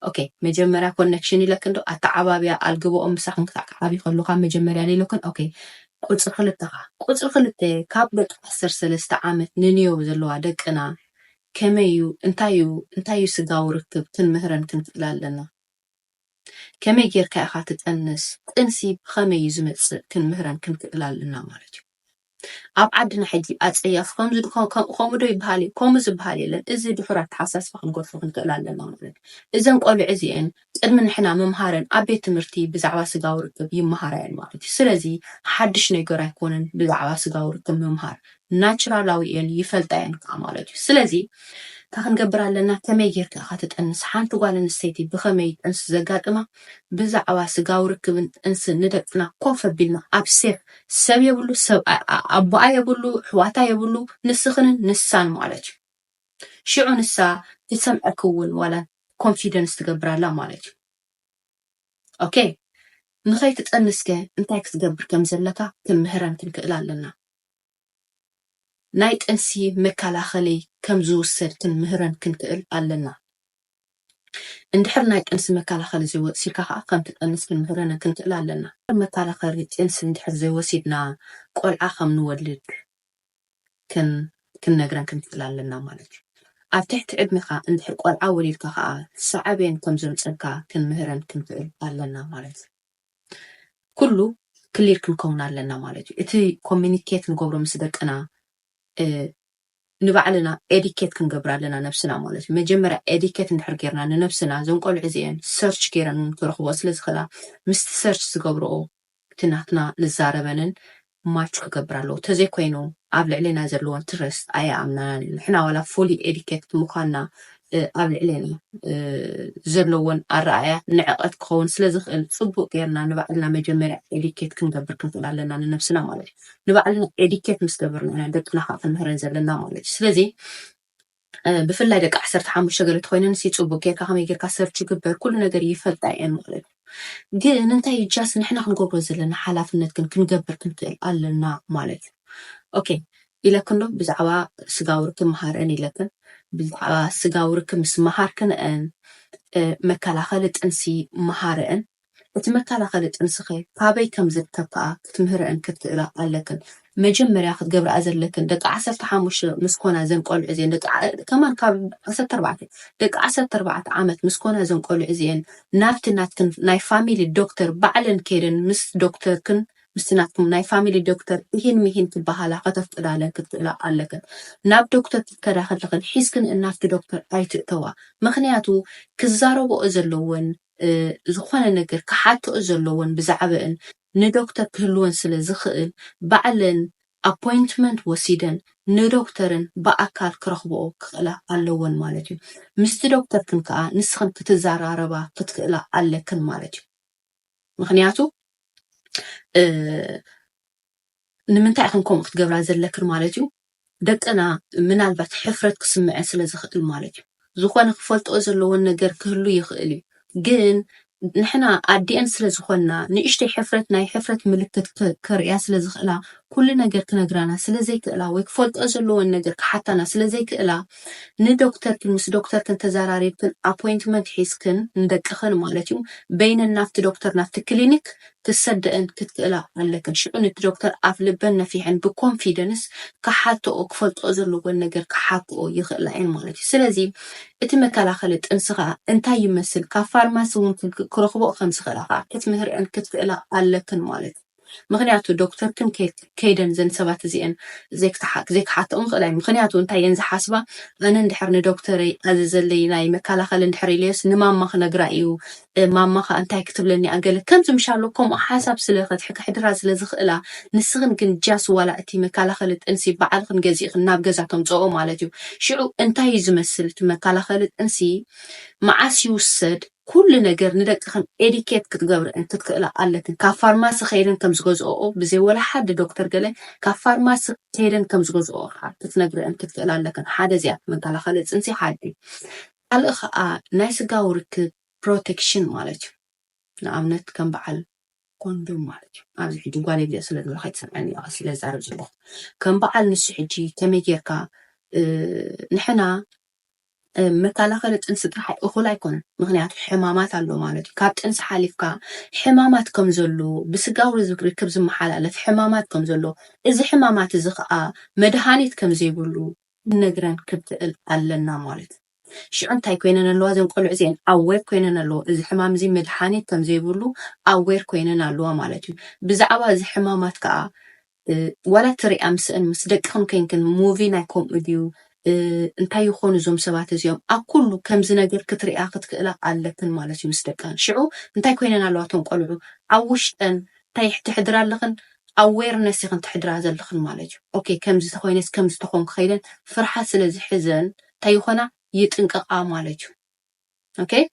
ኦኬ መጀመርያ ኮኔክሽን ኢለክን ዶ ኣተዓባብያ ኣልግብኦም ምሳኽን ክሳዕ ክዓብይ ከሎ ካብ መጀመርያ ሌሎክን ኦኬ ቁፅሪ ክልተኻ ቁፅሪ ክልተ ካብ ደቂ ዓሰርተ ሰለስተ ዓመት ንንዮው ዘለዋ ደቅና ከመይ እዩ እንታይ እዩ እንታይ እዩ ስጋዊ ርክብ ክንምህረን ክንክእል ኣለና ከመይ ጌርካ ኢኻ ትጠንስ ጥንሲ ብኸመይ እዩ ዝመጽእ ክንምህረን ክንክእል ኣለና ማለት እዩ ኣብ ዓድና ሕጂ ኣጸያፊ ከምዚ ከምኡ ዶ ይበሃል እዩ ከምኡ ዝበሃል የለን እዚ ድሑር ኣተሓሳስባ ክንገድፎ ክንክእል ኣለና ማለት እዩ እዘን ቆልዑ እዚኤን ቅድሚ ንሕና ምምሃረን ኣብ ቤት ትምህርቲ ብዛዕባ ስጋዊ ርክብ ይመሃራ እየን ማለት እዩ። ስለዚ ሓድሽ ነገር ኣይኮነን ብዛዕባ ስጋዊ ርክብ ምምሃር። ናቹራላዊ እየን ይፈልጣ እየን ከኣ ማለት እዩ። ስለዚ እንታይ ክንገብር ኣለና ከመይ ጌርካ ኢኻ ትጥንስ ሓንቲ ጓል ኣንስተይቲ ብኸመይ እዩ ጥንሲ ዘጋጥማ ብዛዕባ ስጋዊ ርክብን ጥንስን ንደቅና ኮፍ ኣቢልና ኣብ ሴፍ ሰብ የብሉ ሰብ ኣቦኣ የብሉ ኣሕዋታ የብሉ ንስኽንን ንሳን ማለት እዩ። ሽዑ ንሳ ክትሰምዐኪ እውን ዋላ ኮንፊደንስ ትገብር ኣላ ማለት እዩ ኦኬ ንኸይትጠንስ ከ እንታይ ክትገብር ከም ዘለካ ክንምህረን ክንክእል ኣለና ናይ ጥንሲ መከላኸሊ ከም ዝውሰድ ክንምህረን ክንክእል ኣለና እንድሕር ናይ ጥንሲ መከላኸሊ ዘይወሲድካ ከዓ ከም ትጠንስ ክንምህረን ክንክእል ኣለና መከላኸሊ ጥንሲ እንድሕር ዘይወሲድና ቆልዓ ከም ንወልድ ክንነግረን ክንክእል ኣለና ማለት እዩ። ኣብ ትሕቲ ዕድሜኻ እንድሕር ቆልዓ ወሊድካ ከኣ ሳዕቤን ከም ዘምጸልካ ክንምህረን ክንክእል ኣለና ማለት እዩ። ኩሉ ክሊር ክንከውን ኣለና ማለት እዩ። እቲ ኮሚኒኬት ንገብሮ ምስ ደቅና ንባዕልና ኤዲኬት ክንገብር ኣለና ነብስና ማለት እዩ። መጀመርያ ኤዲኬት እንድሕር ጌርና ንነብስና እዘን ቆልዑ እዚኤን ሰርች ጌረን ክረኽብኦ ስለ ዝኽእላ ምስቲ ሰርች ዝገብርኦ እቲ ናትና ንዛረበንን ማች ክገብር ኣለዎ ተዘይ ኮይኑ ኣብ ልዕሌና ዘለዎ ትረስት ኣይኣምናናን እዩ ንሕና ዋላ ፉሊ ኤዲኬትድ ምዃንና ኣብ ልዕሌና ዘለዎን ኣረኣእያ ንዕቐት ክኸውን ስለ ዝኽእል ጽቡቅ ጌርና ንባዕልና መጀመርያ ኤዲኬት ክንገብር ክንክእል ኣለና ንነብስና ማለት እዩ ንባዕልና ኤዲኬት ምስ ገበርና ኢና ደቅና ከኣ ክንምህረን ዘለና ማለት እዩ ስለዚ ብፍላይ ደቂ ዓሰርተ ሓሙሽተ ገለ ተኮይነን ሲ ጽቡቅ ጌርካ ከመይ ጌርካ ሰርች ይግበር ኩሉ ነገር ይፈልጣ እየን ማለት እዩ ግን እንታይ እዩ ጃስ ንሕና ክንገብሮ ዘለና ሓላፍነት ግን ክንገብር ክንክእል ኣለና ማለት እዩ ኦኬ ኢለክን ዶ ብዛዕባ ስጋዊ ርክብ መሃረን ኢለክን ብዛዕባ ስጋዊ ርክብ ምስ መሃርክንአን መከላኸሊ ጥንሲ መሃረን እቲ መከላኸሊ ጥንስኸ ካበይ ከም ዝርከብ ከኣ ክትምህረእን ክትክእላ ኣለክን። መጀመርያ ክትገብርኣ ዘለክን ደቂ ዓሰርተ ሓሙሽተ ምስ ኮና እዘን ቆልዑ እዚኤን ደቂ ከማን ካብ ዓሰርተ ኣርባዕተ ደቂ ዓሰርተ ኣርባዕተ ዓመት ምስ ኮና እዘን ቆልዑ እዚኤን ናብቲ ናትክን ናይ ፋሚሊ ዶክተር ባዕለን ከይደን ምስ ዶክተርክን ምስቲ ናትኩም ናይ ፋሚሊ ዶክተር ኢሂን ሚሂን ክበሃላ ከተፍቅዳለን ክትክእላ ኣለክን። ናብ ዶክተር ክትከዳ ከለክን ሒዝክንእን ናብቲ ዶክተር ኣይትእተዋ ምኽንያቱ ክዛረብኦ ዘለወን ዝኾነ ነገር ክሓትኦ ዘለወን ብዛዕበእን ንዶክተር ክህልወን ስለ ዝኽእል ባዕለን ኣፖይንትመንት ወሲደን ንዶክተርን ብኣካል ክረኽብኦ ክኽእላ ኣለወን ማለት እዩ። ምስቲ ዶክተርክን ከኣ ንስኽን ክትዛራረባ ክትክእላ ኣለክን ማለት እዩ። ምኽንያቱ ንምንታይ ኢኽን ከምኡ ክትገብራ ዘለክን ማለት እዩ ደቅና ምናልባት ሕፍረት ክስምዐን ስለ ዝኽእል ማለት እዩ ዝኾነ ክፈልጥኦ ዘለዎን ነገር ክህሉ ይኽእል እዩ ግን ንሕና ኣዲኤን ስለ ዝኾንና ንእሽተይ ሕፍረት ናይ ሕፍረት ምልክት ከርእያ ስለ ዝኽእላ ኩሉ ነገር ክነግራና ስለ ዘይክእላ ወይ ክፈልጥኦ ዘለዎን ነገር ክሓታና ስለ ዘይክእላ ንዶክተርክን ምስ ዶክተርክን ተዘራሪብክን ኣፖይንትመንት ሒዝክን ንደቅኽን ማለት እዩ በይነን ናብቲ ዶክተር ናብቲ ክሊኒክ ክሰደእን ክትክእላ ኣለክን ሽዑ ንቲ ዶክተር ኣፍ ልበን ነፊሐን ብኮንፊደንስ ክሓትኦ ክፈልጥኦ ዘለወን ነገር ክሓክኦ ይክእላ እየን ማለት እዩ ስለዚ እቲ መከላከሊ ጥንሲ ከኣ እንታይ ይመስል ካብ ፋርማሲ እውን ክረክብኦ ከምዝክእላ ከኣ ክትምህርኤን ክትክእላ ኣለክን ማለት እዩ ምክንያቱ ዶክተርክን ከይት ከይደን እዘን ሰባት እዚኤን ዘይክሓትኦም ይኽእል ኣዩ ምኽንያቱ እንታይ እየን ዝሓስባ ኣነ እንድሕር ንዶክተረይ ኣዘዘለይ ናይ መካላኸሊ እንድሕር ኢለዮስ ንማማ ክነግራ እዩ ማማ ከኣ እንታይ ክትብለኒ እያ ገለ ከምዚ ምሻሎ ከምኡ ሓሳብ ስለ ከሕድራ ስለ ዝኽእላ ንስኽን ግን ጃስ ዋላ እቲ መካላኸሊ ጥንሲ ባዕልኽን ገዚእኽን ናብ ገዛ ተምጽኦ ማለት እዩ ሽዑ እንታይ እዩ ዝመስል እቲ መካላኸሊ ጥንሲ መዓስ ይውሰድ ኩሉ ነገር ንደቅኽን ኤዲኬት ክትገብርእን ክትክእላ ኣለክን ካብ ፋርማሲ ከይደን ከም ዝገዝኦኦ ብዘይ ወላ ሓዲ ዶክተር ገለ ካብ ፋርማሲ ከይደን ከም ዝገዝኦኦ ክዓ ክትነግርእን ክትክእላ ኣለክን ሓደ እዚኣ መንካላኸሊ ፅንሲ ሓዲ ካልእ ክዓ ናይ ስጋዊ ርክብ ፕሮቴክሽን ማለት እዩ ንኣብነት ከም በዓል ኮንዶም ማለት እዩ ኣብዚ ሕጂ ጓል የብልየ ስለ ዝብላ ከይትሰምዐኒ እያ ቀስ ኢለ ዝዛረብ ዘለኹ ከም በዓል ንሱ ሕጂ ከመይ ጌርካ ንሕና መከላኸሊ ጥንሲ ጥራሕ እኹል ኣይኮነን፣ ምኽንያቱ ሕማማት ኣሎ ማለት እዩ። ካብ ጥንሲ ሓሊፍካ ሕማማት ከም ዘሎ፣ ብስጋዊ ርክብ ዝመሓላለፍ ሕማማት ከም ዘሎ፣ እዚ ሕማማት እዚ ኸኣ መድሃኒት ከም ዘይብሉ ክንነግረን ክንክእል ኣለና ማለት እዩ። ሽዑ እንታይ ኮይነን ኣለዋ እዘን ቆልዑ እዚኤን? ኣዌር ኮይነን ኣለዎ። እዚ ሕማም እዚ መድሃኒት ከም ዘይብሉ ኣዌር ኮይነን ኣለዋ ማለት እዩ። ብዛዕባ እዚ ሕማማት ከኣ ዋላ እትሪኣ ምስእን ምስ ደቅኽን ኮይንክን movie ናይ ከምኡ ድዩ እንታይ ይኾኑ እዞም ሰባት እዚኦም ኣብ ኩሉ ከምዚ ነገር ክትሪኣ ክትክእላ ኣለክን ማለት እዩ ምስ ደቅኽን ሽዑ እንታይ ኮይነን ኣለዋ እቶም ቆልዑ ኣብ ውሽጠን እንታይ ተሕድራ ኣለኽን ኣዌርነስ ኢኽን ተሕድራ ዘለኽን ማለት እዩ ኦኬ ከምዚ ተኾይነስ ከምዚ ተኾንኩ ከይለን ፍርሓት ስለ ዝሕዘን እንታይ ይኾና ይጥንቀቃ ማለት እዩ ኦከይ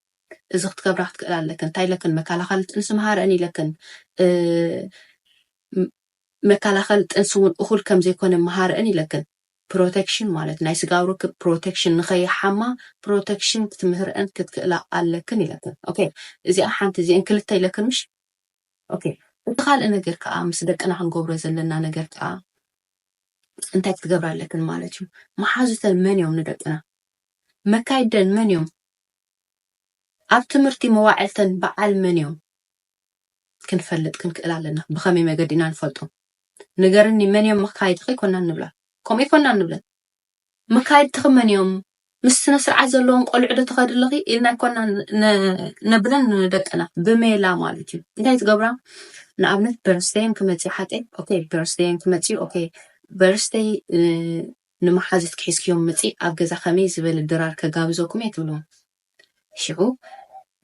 እዚ ክትገብራ ክትክእል ኣለክን እንታይ ኢለክን መከላኸሊ ጥንሲ መሃረን ኢለክን መከላኸሊ ጥንሲ እውን እኹል ከም ዘይኮነ መሃረን ኢለክን ፕሮቴክሽን ማለት ናይ ስጋዊ ርክብ ፕሮቴክሽን ንኸይሓማ ፕሮቴክሽን ክትምህርአን ክትክእላ ኣለክን ኢለክን ኦኬ እዚኣ ሓንቲ እዚአን ክልተ ኢለክን ምሽ ኦኬ እቲ ካልእ ነገር ከዓ ምስ ደቅና ክንገብሮ ዘለና ነገር ከዓ እንታይ ክትገብራ ኣለክን ማለት እዩ መሓዙተን መን እዮም ንደቅና መካይድደን መን እዮም? ኣብ ትምህርቲ መዋዕልተን በዓል መን እዮም? ክንፈልጥ ክንክእል ኣለና። ብኸመይ መገዲ ኢና ንፈልጦም? ንገርኒ መን እዮም መካይድኺ ኮና ንብላ። ከምኡ ኮና ንብለን። መካይድትኺ መን እዮም? ምስ ስነ ስርዓት ዘለዎም ቆልዑ ዶ ትኸዲ ኣለኺ ኢልና ይኮና ነብለን ንደቅና ብሜላ ማለት እዩ እንታይ ትገብራ ንኣብነት በርስደየን ክመፅእ ሓቀይ ኦኬ በርስደየን ክመፅእ ኦኬ በርስደይ ንመሓዙትኪ ሒዝክዮም ምጺ ኣብ ገዛ ከመይ ዝበለ ድራር ከጋብዘኩም እየ ትብሎም ሽዑ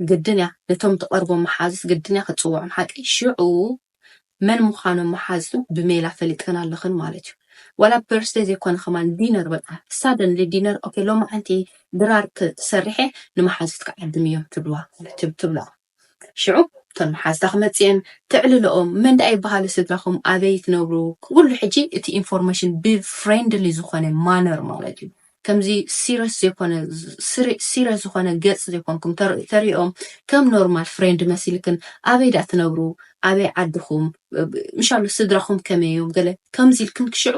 ግድን እያ ነቶም ትቀርቦም መሓዙት ግድን እያ ክትጽውዖም ሓቀይ ሽዑ መን ምዃኖም መሓዙት ብሜላ ፈሊጠን ኣለኽን ማለት እዩ ዋላ በርስደይ ዘይኮነ ከማን ዲነር በቃ ሳደንሊ ዲነር ኦኬ ሎማዓንቲ ድራር ሰሪሐ ንመሓዙትኪ ዓድምዮም ትብልዋ ትብላ ሽዑ እቶን መሓዝታ ክመጽእየን ተዕልሎኦም መን ድኣ ይበሃሉ ስድራኹም ኣበይ ትነብሩ ኩሉ ሕጂ እቲ ኢንፎርመሽን ብ ፍሬንድሊ ዝኾነ ማነር ማለት እዩ ከምዚ ሲረስ ዘይኮነ ሲረስ ዝኾነ ገጽ ዘይኮንኩም ተርእኦም ከም ኖርማል ፍሬንድ መሲልክን ኣበይ ድኣ ትነብሩ ኣበይ ዓድኹም ምሻሎ ስድራኹም ከመይ እዮም ገለ ከምዚ ኢልክን ክሽዑ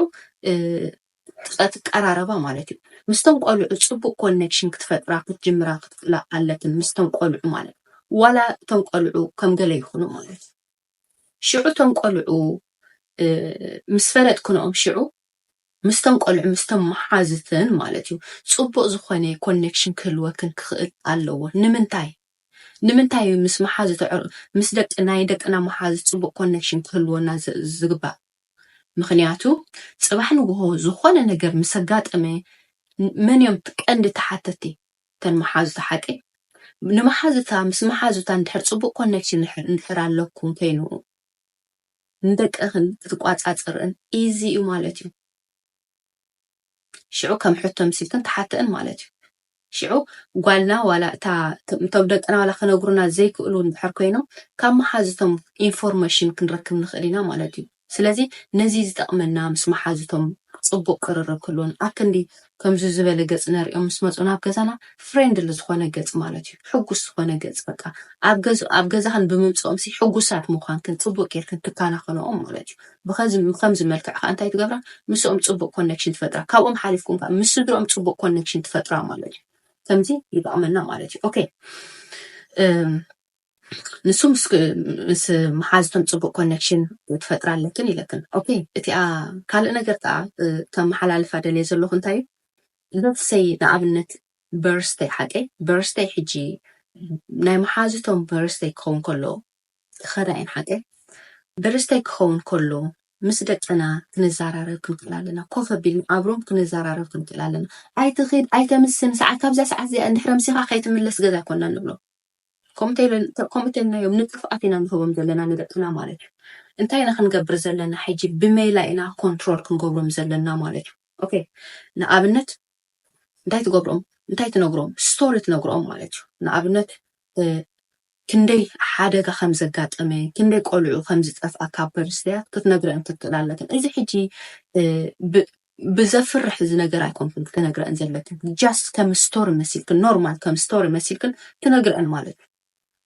ክትቀራረባ ማለት እዩ ምስተን ቆልዑ ፅቡቅ ኮነክሽን ክትፈጥራ ክትጅምራ ክትክእላ ኣለክን ምስተን ቆልዑ ማለት ዋላ እቶም ቆልዑ ከም ገለ ይኹኑ ማለት እዩ ሽዑ እቶም ቆልዑ ምስ ፈለጥክንኦም ሽዑ ምስተን ቆልዑ ምስተን መሓዝትን ማለት እዩ ፅቡቅ ዝኾነ ኮነክሽን ክህልወክን ክኽእል ኣለዎ ንምንታይ ንምንታይ እዩ ምስ መሓዝት ምስ ደቂ ናይ ደቅና መሓዝት ፅቡቅ ኮነክሽን ክህልወና ዝግባእ ምኽንያቱ ጽባሕ ንግሆ ዝኾነ ነገር ምስ ኣጋጠመ መን እዮም ቀንዲ ተሓተቲ? እተን መሓዙታ ሓቀይ? ንመሓዙታ ምስ መሓዙታ እንድሕር ጽቡቕ ኮነክሽን እንድሕር ኣለኩም ኮይኑ ንደቅኽን ክትቋጻጸር'ን ኢዚ እዩ ማለት እዩ። ሽዑ ከም ሕቶ ኣምሲልክን ትሓተእን ማለት እዩ። ሽዑ ጓልና ዋላ እታ እቶም ደቅና ዋላ ክነግሩና ዘይክእሉ እንድሕር ኮይኖም ካብ መሓዙቶም ኢንፎርመሽን ክንረክብ ንኽእል ኢና ማለት እዩ። ስለዚ ነዚ ዝጠቕመና ምስ መሓዙቶም ጽቡቕ ቅርርብ ክህልወን ኣብ ክንዲ ከምዚ ዝበለ ገጽ ነርእዮም ምስ መጹ ናብ ገዛና ፍሬንድሊ ዝኾነ ገጽ ማለት እዩ ሕጉስ ዝኾነ ገጽ በቃ ኣብ ገዝ ኣብ ገዛኽን ብምምጽኦምሲ ሕጉሳት ምዃንክን ጽቡቕ ጌርክን ትከናኸንኦም ማለት እዩ። ብኸምዚ መልክዕ ከኣ እንታይ ትገብራ ምስኦም ጽቡቅ ኮነክሽን ትፈጥራ ካብኦም ሓሊፍኩም ከኣ ምስ ስድርኦም ጽቡቅ ኮነክሽን ትፈጥራ ማለት እዩ ከምዚ ይጠቅመና ማለት እዩ ኦኬ ንሱ ምስ መሓዝቶም ጽቡቅ ኮነክሽን ትፈጥራ ኣለክን ኢለክን ኦኬ እቲኣ ካልእ ነገር ከኣ ከመሓላልፋ ደልየ ዘለኹ እንታይ እዩ ልብሰይ ንኣብነት በርስተይ ሓቀይ በርስተይ ሕጂ ናይ መሓዝቶም በርስተይ ክኸውን ከሎ ዝኸዳ እየን ሓቀይ ብርስተይ ክኸውን ከሎ ምስ ደቅና ክንዛራረብ ክንክእል ኣለና ኮፍ ኣቢልና ኣብሮም ክንዛራረብ ክንክእል ኣለና ኣይትኺድ ኣይተምስን ሰዓት ካብዛ ሰዓት እዚኣ እንድሕር ኣምሲኻ ከይትምለስ ገዛ ኮና ንብሎ ከምኡ ተልናዮም ንጥፍኣት ኢና ንህቦም ዘለና ንደቅና ማለት እዩ እንታይ ኢና ክንገብር ዘለና ሕጂ ብሜላ ኢና ኮንትሮል ክንገብሮም ዘለና ማለት እዩ ኦኬ ንኣብነት እንታይ ትገብሮም እንታይ ትነግሮም ስቶሪ ትነግሮም ማለት እዩ ንኣብነት ክንደይ ሓደጋ ከም ዘጋጠመ ክንደይ ቆልዑ ከም ዝጠፍኣ ካብ ፐርስያት ክትነግረን ትክእል ኣለክን እዚ ሕጂ ብዘፍርሕ እዚ ነገር ኣይኮንክን ክትነግረን ዘለክን ጃስት ከም ስቶሪ መሲልክን ኖርማል ከም ስቶሪ መሲልክን ትነግረን ማለት እዩ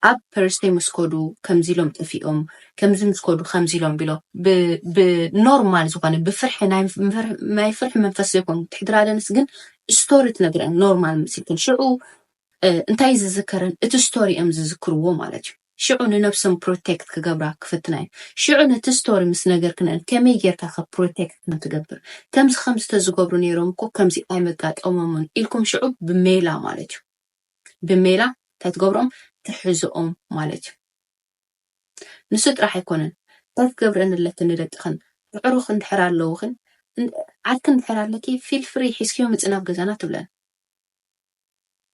ኣብ ፐርስቴ ምስ ከዱ ከምዚ ኢሎም ጠፊኦም ከምዚ ምስ ከዱ ከምዚ ኢሎም ቢሎ ብ ብ ኖርማል ዝኾነ ብፍርሒ ናይ ምፍር ናይ ፍርሒ መንፈስ ዘይኮኑ ትሕድራደንስ ግን ስቶሪ ትነግረን ኖርማል መሲልክን ሽዑ እ እንታይ ዝዝከረን እቲ ስቶሪ እዮም ዝዝክርዎ ማለት እዩ ሽዑ ንነብሶም ፕሮቴክት ክገብራ ክፍትና እየን ሽዑ ነቲ ስቶሪ ምስ ነገርክነን ከመይ ጌርካ ከ ፕሮቴክት ከም ትገብር ከምዚ ከምዚ ተዝገብሩ ነይሮም እኮ ከምዚ ኣይመጋጠሞምን ኢልኩም ሽዑ ብሜላ ማለት እዩ ብሜላ እንታይ ትገብሮም ትሕዞኦም ማለት እዩ ንሱ ጥራሕ ኣይኮነን እንታይ ትገብረን ኣለክን ንደቅኽን ኣዕሩኽ እንድሕር ኣለውኽን ዓርኪ እንድሕር ኣለኪ ፊል ፍሪ ሒዝክዮ ምፅ ናብ ገዛና ትብለን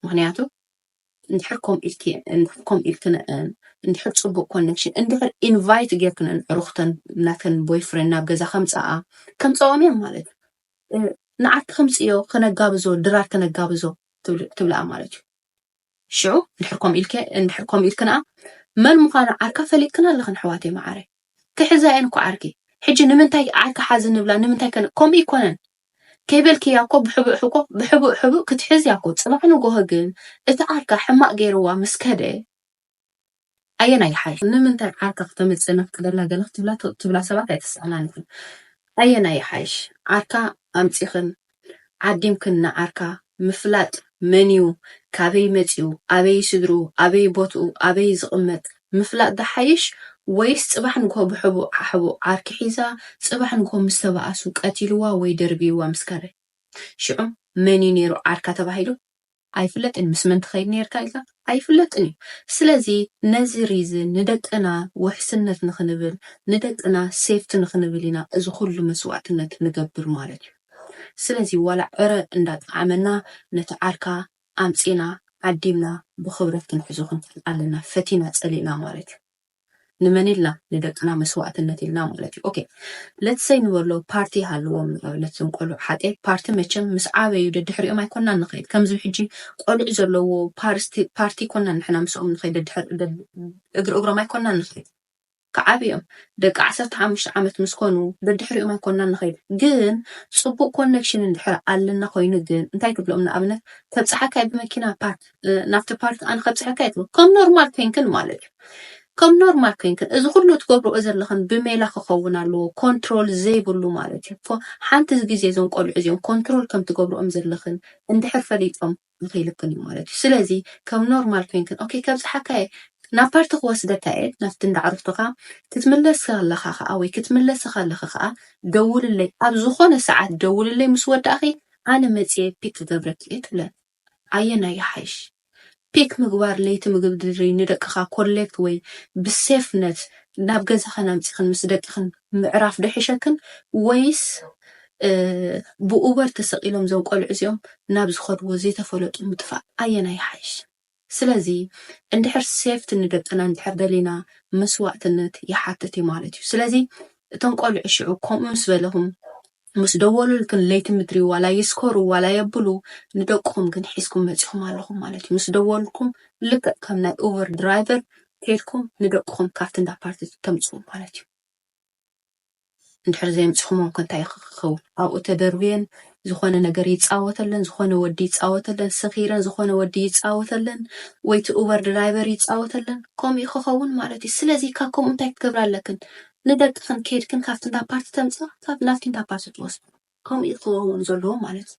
ምክንያቱ እንድሕር ከምኡ ኢልኪ እንድሕር ከምኡ ኢልክንአን እንድሕር ፅቡቅ ኮኔክሽን እንድሕር ኢንቫይት ጌርክነን ዕሩኽተን ናተን ቦይፍሬንድ ናብ ገዛ ከምፀኣ ከምፀኦም እዮም ማለት እዩ ንዓርኪ ከምጽእዮ ከነጋብዞ ድራር ከነጋብዞ ትብልኣ ማለት እዩ። ሽዑ እንድሕር ከምኡ ኢልኪ እንድሕር ከምኡ ኢልኪ ንኣ መን ምዃና ዓርካ ፈሊጥክን ኣለኽን ኣሕዋተይ መዓረይ። ክሕዛ እየን እኮ ዓርኪ ሕጂ ንምንታይ ዓርኪ ሓዚ ንብላ ንምንታይ ከምኡ ኣይኮነን ከይበልክያ እኮ ብሕቡእ ሕኮ ብሕቡእ ሕቡእ ክትሕዝያ እኮ ጽባሕ ንጎሆ ግን እቲ ዓርካ ሕማቅ ገይርዋ ምስ ከደ ኣየናይ ይሓይሽ ንምንታይ ዓርካ ክተምጽእ ነፍቅደላ ገለ ክትብላ ትብላ ሰባት ኣይተሰኣናንክን ኣየናይ ይሓይሽ ዓርካ ኣምጺክን ዓዲምክን ንዓርካ ምፍላጥ መንዩ ካበይ መጽዩ ኣበይ ስድርኡ ኣበይ ቦትኡ ኣበይ ዝቅመጥ ምፍላጥ ድሓይሽ ወይስ ጽባሕ ንግሆ ብሕቡእ ሓሕቡእ ዓርኪ ሒዛ ጽባሕ ንግሆ ምስ ተባኣሱ ቀቲልዋ ወይ ደርብይዋ ምስ ከደ ሽዑ መንዩ ኔሩ ዓርካ ተባሂሉ ኣይፍለጥን ምስ መን ትኸይድ ኔርካ ኢልካ ኣይፍለጥን እዩ ስለዚ ነዚ ሪዝን ንደቅና ውሕስነት ንኽንብል ንደቅና ሴፍቲ ንኽንብል ኢና እዚ ኹሉ መስዋእትነት ንገብር ማለት እዩ ስለዚ ዋላ ዕረ እንዳጠዓመና ነቲ ዓርካ ኣምጺና ዓዲምና ብኽብረት ክንሕዞ ክንክእል ኣለና ፈቲና ጸሊእና ማለት እዩ። ንመን ኢልና ንደቅና መስዋእትነት ኢልና ማለት እዩ ኦኬ ለት ሰይ ንበሎ ፓርቲ ይሃልዎም ንኣብነት እዞም ቆልዑ ሓቀይ ፓርቲ መቸም ምስ ዓበዩ ደድሕሪኦም ኣይኮናን ንኸይድ ከምዚ ሕጂ ቆልዑ ዘለዎ ፓርቲ ኮናን ንሕና ምስኦም ንኸይድ እግሪ እግሮም ኣይኮናን ንኸይድ ክዓብ እዮም ደቂ ዓሰርተ ሓሙሽተ ዓመት ምስ ኮኑ ደድሕሪኦም ኣይኮናን ንኸይድ ግን ፅቡቅ ኮኔክሽን እንድሕር ኣለና ኮይኑ ግን እንታይ ትብሎም ንኣብነት ተብፅሓካይ ብመኪና ፓርክ ናብቲ ፓርት ኣነ ከብፅሐካ የት ከም ኖርማል ኮይንክን ማለት እዩ ከም ኖርማል ኮይንክን እዚ ኩሉ ትገብርኦ ዘለኽን ብሜላ ክኸውን ኣለዎ ኮንትሮል ዘይብሉ ማለት እዩ ሓንቲ ግዜ እዞም ቆልዑ እዚኦም ኮንትሮል ከም ትገብርኦም ዘለኽን እንድሕር ፈሊጦም ይኽይልክን እዩ ማለት እዩ ስለዚ ከም ኖርማል ኮይንክን ኦኬ ከብፅሓካ እየ ናብ ፓርቲ ክወስደካ እየ ናብቲ እንዳዕርፍትኻ ክትምለስ ከለኻ ከዓ ወይ ክትምለስ ከለኺ ከዓ ደውልለይ ኣብ ዝኾነ ሰዓት ደውልለይ ምስ ወዳእኺ ኣነ መፅየ ፒክ ክገብረኪ እየ ትብለን ኣየናይ ይሓይሽ ፒክ ምግባር ለይቲ ምግብ ድሪ ንደቅኻ ኮሌክት ወይ ብሴፍ ነት ናብ ገዛኽን ኣምጺኽን ምስ ደቂኽን ምዕራፍ ዶ ይሕሸክን ወይስ ብኡበር ተሰቂሎም ዞም ቆልዑ እዚኦም ናብ ዝኸድዎ ዘይተፈለጡ ምጥፋእ ኣየናይ ይሓይሽ ስለዚ እንድሕር ሴፍት ንደቅና እንድሕር ደሊና መስዋእትነት ይሓትት እዩ ማለት እዩ ስለዚ እቶም ቆልዑ ሽዑ ከምኡ ምስ በለኹም ምስ ደወሉልክን ለይቲ ምድሪ ዋላ ይስከሩ ዋላ የብሉ ንደቅኹም ግን ሒዝኩም መጺኹም ኣለኹም ማለት እዩ። ምስ ደወሉልኩም ልክዕ ከም ናይ ኡበር ድራይቨር ከይድኩም ንደቅኹም ካብቲ እንዳ ፓርቲ ተምጽኡ ማለት እዩ። እንድሕር ዘየምጺኹሞም ከ እንታይ ክኸውን? ኣብኡ ተደርብየን ዝኾነ ነገር ይጻወተለን፣ ዝኾነ ወዲ ይጻወተለን፣ ሰኺረን ዝኾነ ወዲ ይጻወተለን ወይ እቲ ኡበር ድራይቨር ይጻወተለን፣ ከምኡ እዩ ክኸውን ማለት እዩ። ስለዚ ካብ ከምኡ እንታይ ክትገብራ ኣለክን? ንደቅክን ከይድክን ካብቲ እንዳ ፓርቲ ተምጽኣ ካብ ናትኪ እንዳ ፓርቲ ትወስዶ ከምኡ እዩ ክከውን ዘለዎ ማለት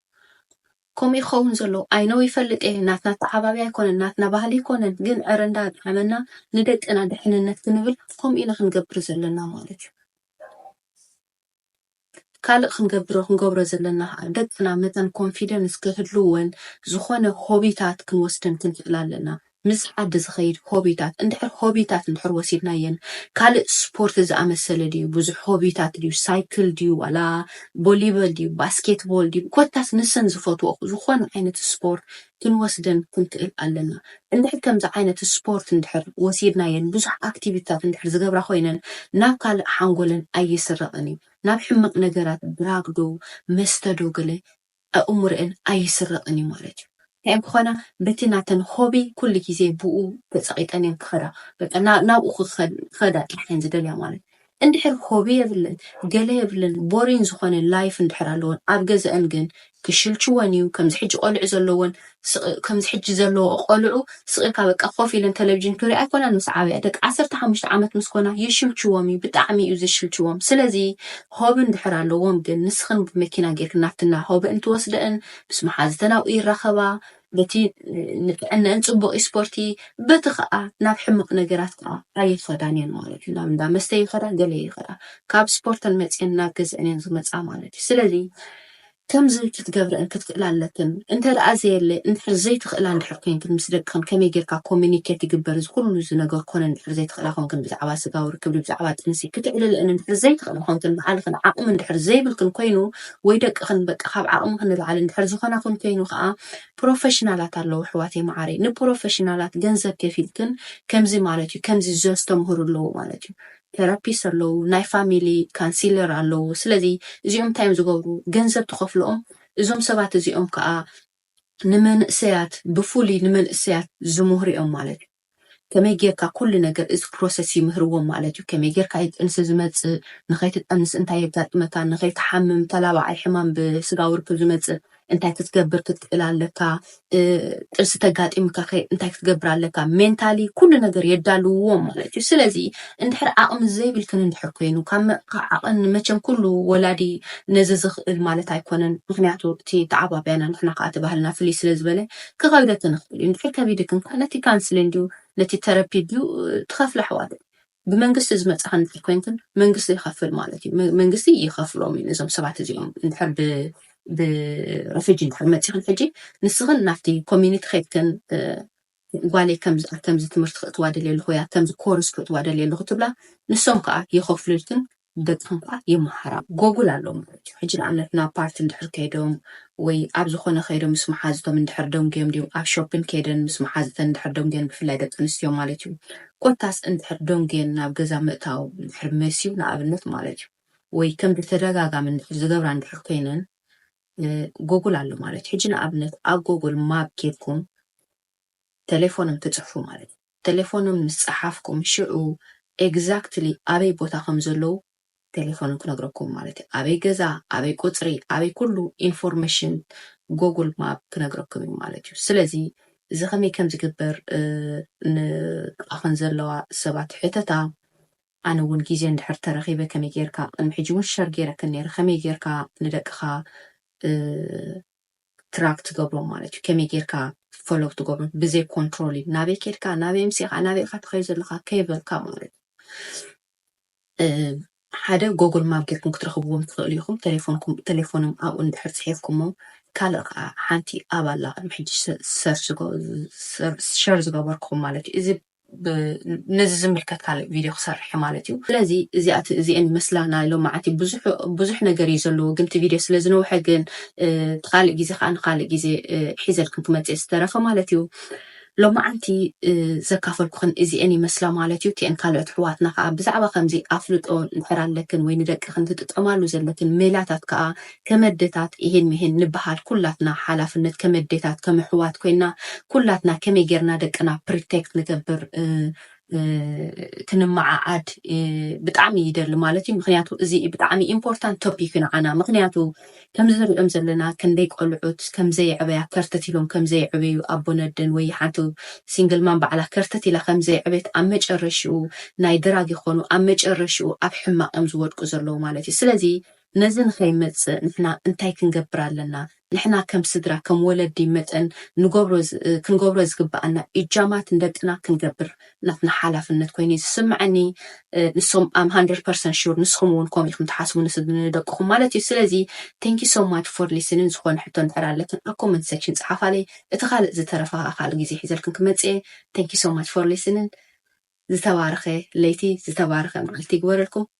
ከምኡ እዩ ክከውን ዘለዎ ኣይ ኖው ይፈልጥ እየ ናትና ተዓባቢ ኣይኮነን ናትና ባህሊ ኣይኮነን ግን ዕረ እንዳ ጠዓመና ንደቅና ድሕንነት ክንብል ከምኡ ኢና ክንገብር ዘለና ማለት እዩ ካልእ ክንገብሮ ክንገብሮ ዘለና ከኣ ደቅና መታን ኮንፊደንስ ክህልወን ዝኾነ ሆቢታት ክንወስደን ክንክእል ኣለና ምስ ዓዲ ዝኸይድ ሆቢታት እንድሕር ሆቢታት እንድሕር ወሲድናየን ካልእ ስፖርት ዝኣመሰለ ድዩ ብዙሕ ሆቢታት ድዩ ሳይክል ድዩ ዋላ ቦሊበል ድዩ ባስኬትቦል ድዩ ኮታስ ንሰን ዝፈትወኦ ዝኾነ ዓይነት ስፖርት ክንወስደን ክንክእል ኣለና። እንድሕር ከምዚ ዓይነት ስፖርት እንድሕር ወሲድናየን ብዙሕ ኣክቲቪቲታት እንድሕር ዝገብራ ኮይነን ናብ ካልእ ሓንጎለን ኣይስረቕን እዩ። ናብ ሕማቕ ነገራት ድራግ ዶ መስተ ዶ ገለ ኣእምሮኤን ኣይስረቕን እዩ ማለት እዩ። እንታይ እየን ክኾና በቲ ናተን ሆቢ ኩሉ ግዜ ብኡ ተጸቒጠን እየን ክኸዳ በቃ ናብኡ ክኸዳ ጥራሕ እየን ዝደልያ ማለት እዩ። እንድሕር ሆቢ የብለን ገለ የብለን ቦሪን ዝኾነ ላይፍ እንድሕር ኣለወን ኣብ ገዘኣን ግን ክሽልችወን እዩ ከምዚ ሕጂ ቆልዑ ዘለወን ስቅ ከምዚ ሕጂ ዘለዎ ቆልዑ ስቅ ኢልካ በቃ ኮፍ ኢለን ተለቪዥን ክሪኣ ኣይኮናን ምስ ዓበያ ደቂ ዓሰርተ ሓሙሽተ ዓመት ምስ ኮና ይሽልችዎም እዩ ብጣዕሚ እዩ ዝሽልችዎም ስለዚ ሆቢ እንድሕር ኣለዎም ግን ንስኽን ብመኪና ጌርክን ናብትና ሆቢ እንትወስደእን ምስ መሓዝተን ኣብኡ ይራኸባ በቲ ንጥዕነአን ፅቡቕ እዩ ስፖርቲ በቲ ከዓ ናብ ሕመቕ ነገራት ከዓ ኣይኸዳን እየን ማለት እዩ ናብ እንዳ መስተ ይኸዳ ገለ ይኸዳ ካብ ስፖርተን መፅየን ናብ ገዝአን እየን ዝመፅኣ ማለት እዩ ስለዚ ከምዚ ክትገብረአን ክትክእላ ኣለክን እንተ ደኣ ዘየለ እንድሕር ዘይትኽእላ እንድሕር ኮይንክን ምስ ደቅኽን ከመይ ጌርካ ኮሚኒኬት ይግበር እዚ ኩሉ ዝነገር ኮነ እንድሕር ዘይትኽእላ ኮንክን ብዛዕባ ስጋዊ ርክብ ብዛዕባ ጥንሲ ክትዕልለአን እንድሕር ዘይትኽእላ ኮንክን ባዕልኽን ዓቕሚ እንድሕር ዘይብልክን ኮይኑ ወይ ደቅኽን በቃ ካብ ዓቕምኽን ንላዕሊ እንድሕር ዝኾናኹን ኮይኑ ከኣ ፕሮፈሽናላት ኣለዉ ኣሕዋተይ መዓረይ ንፕሮፈሽናላት ገንዘብ ከፊልክን ከምዚ ማለት እዩ ከምዚ ዘስተምህሩ ኣለዉ ማለት እዩ ቴራፒስ ኣለዉ ናይ ፋሚሊ ካንሲለር ኣለዉ ስለዚ እዚኦም እንታይ እዮም ዝገብሩ ገንዘብ ትኸፍልኦም እዞም ሰባት እዚኦም ከኣ ንመንእሰያት ብፍሉይ ንመንእሰያት ዝምህሩ እዮም ማለት እዩ ከመይ ጌርካ ኩሉ ነገር እዚ ፕሮሰስ ይምህርዎም ማለት እዩ ከመይ ጌርካ እዩ ጥንሲ ዝመጽእ ንኸይትጠንስ እንታይ የጋጥመካ ንኸይትሓምም ተላባዓይ ሕማም ብስጋዊ ርክብ ዝመጽእ እንታይ ክትገብር ክትክእል ኣለካ ጥንሲ ተጋጢምካ ከ እንታይ ክትገብር ኣለካ ሜንታሊ ኩሉ ነገር የዳልውዎም ማለት እዩ ስለዚ እንድሕር ዓቕሚ ዘይብልክን እንድሕር ኮይኑ ካብ ዓቕን መቸም ኩሉ ወላዲ ነዚ ዝኽእል ማለት ኣይኮነን ምክንያቱ እቲ ተዓባብያና ንሕና ከዓ እቲ ባህልና ፍልይ ስለ ዝበለ ክከብደክን ይክእል እዩ እንድሕር ከቢድክን ከኣ ነቲ ካንስሊን ድዩ ነቲ ተረፒ ድዩ ትከፍላ ኣሕዋተይ ብመንግስቲ ዝመጻካ እንድሕር ኮይንክን መንግስቲ ይከፍል ማለት እዩ መንግስቲ ይከፍሎም እዩ ነዞም ሰባት እዚኦም እንድሕር ብ ብረፊጂ እንድሕር መጺክን ሕጂ ንስክን ናብቲ ኮሚኒቲ ከይድክን ጓለይ ከምዚ ከምዚ ትምህርቲ ክእትዋ ደልየ ኣለኹ እያ ከምዚ ኮርስ ክእትዋ ደልየ ኣለኹ ትብላ ንሶም ከዓ የኸፍሉልክን በጽሓን ከኣ ይመሃራ። ጎጉል ኣሎ ማለት እዩ። ሕጂ ንኣብነት ናብ ፓርቲ እንድሕር ከይዶም ወይ ኣብ ዝኾነ ከይዶም ምስ መሓዙቶም እንድሕር ደንጉዮም ድዮም ኣብ ሾፒን ከይደን ምስ መሓዙተን እንድሕር ደንጉየን ብፍላይ ደቂ ኣንስትዮ ማለት እዩ ኮታስ እንድሕር ደንጉየን ናብ ገዛ ምእታው እንድሕር መስዩ ንኣብነት ማለት እዩ ወይ ከም ብተደጋጋሚ እንድሕር ዝገብራ እንድሕር ኮይነን ጎጉል ኣሎ ማለት እዩ። ሕጂ ንኣብነት ኣብ ጎጉል ማፕ ጌርኩም ተሌፎኖም ትጽሕፉ ማለት እዩ። ተሌፎኖም ምስ ጸሓፍኩም ሽዑ ኤግዛክትሊ ኣበይ ቦታ ከም ዘለዉ ተሌፎኖም ክነግረኩም ማለት እዩ። ኣበይ ገዛ፣ ኣበይ ቁጽሪ፣ ኣበይ ኩሉ ኢንፎርመሽን ጎጉል ማፕ ክነግረኩም እዩ ማለት እዩ። ስለዚ እዚ ከመይ ከም ዝግበር ንጥቓኽን ዘለዋ ሰባት ሕተታ። ኣነ እውን ግዜ እንድሕር ተረኺበ ከመይ ጌርካ ቅድሚ ሕጂ እውን ሸር ጌረክን ነይረ ከመይ ጌርካ ንደቅኻ ትራክ ትገብሮም ማለት እዩ ከመይ ጌርካ ፎሎው ክትገብሮም ብዘይ ኮንትሮል እዩ ናበይ ኬድካ ናበይ ምሲኻ ናበይ ኢኻ ትኸይ ዘለኻ ከይበልካ ማለት ሓደ ጎግል ማብ ጌርኩም ክትረኽብዎም ትኽእሉ ኢኹም ቴሌፎንም ኣብኡ እንድሕር ፅሒፍኩሞ ካልእ ከዓ ሓንቲ ኣብ ኣላ ቅድሚ ሕጂ ሸር ዝገበርኩም ማለት እዩ እዚ ነዚ ዝምልከት ካልእ ቪድዮ ክሰርሕ እየ ማለት እዩ። ስለዚ እዚኣት እዚኤን ይመስላ ናይ ሎምዓንቲ ብዙሕ ብዙሕ ነገር እዩ ዘለዎ ግን እቲ ቪድዮ ስለ ዝነውሐ ግን እቲ ካልእ ግዜ ከኣ ንካልእ ግዜ ሒዘልክን ክመጽእ እየ ዝተረፈ ማለት እዩ። ሎምዓንቲ ዘካፈልኩክን እዚኤን ይመስላ ማለት እዩ። እቲኤን ካልኦት ኣሕዋትና ከኣ ብዛዕባ ከምዚ ኣፍልጦ እንድሕር ኣለክን ወይ ንደቅክን ትጥቀማሉ ዘለክን ሜላታት ከኣ ከመዴታት ኢሂን ሚሂን ንበሃል ኩላትና ሓላፍነት ከመዴታት ከም ኣሕዋት ኮይና ኩላትና ከመይ ጌርና ደቅና ፕሪቴክት ንገብር ክንመዓዓድ ብጣዕሚ ይደሊ ማለት እዩ ምክንያቱ እዚ ብጣዕሚ ኢምፖርታንት ቶፒክ ንዓና ምክንያቱ ከምዚ ንሪኦም ዘለና ክንደይ ቆልዑት ከምዘየዕበያ ከርተት ኢሎም ከምዘየዕበዩ ኣቦን ኣደን ወይ ሓንቲ ሲንግል ማም ባዕላ ከርተት ኢላ ከምዘየዕበየት ኣብ መጨረሽኡ ናይ ድራግ ይኮኑ ኣብ መጨረሽኡ ኣብ ሕማቅ እዮም ዝወድቁ ዘለዉ ማለት እዩ ስለዚ ነዚ ንኸይመጽእ ንሕና እንታይ ክንገብር ኣለና? ንሕና ከም ስድራ ከም ወለዲ መጠን ንገብሮ ክንገብሮ ዝግብኣና ኢጃማት ንደቅና ክንገብር ናትና ሓላፍነት ኮይኑ እዩ ዝስምዐኒ ንሶም ኣም ሃንድረድ ፐርሰንት ሹር ንስኹም እውን ከምኡ ኢኹም ትሓስቡ ንደቅኹም ማለት እዩ ስለዚ ቴንኪ ሶ ማች ፎር ሊስንን ዝኾነ ሕቶ እንድሕር ኣለክን ኣብ ኮመንት ሴክሽን ጽሓፋለይ እቲ ካልእ ዝተረፈ ከዓ ካልእ ግዜ ሒዘልክን ክመጽእ እየ ቴንኪ ሶ ማች ፎር ሊስንን ዝተባረኸ ለይቲ ዝተባረኸ መዓልቲ ይግበረልኩም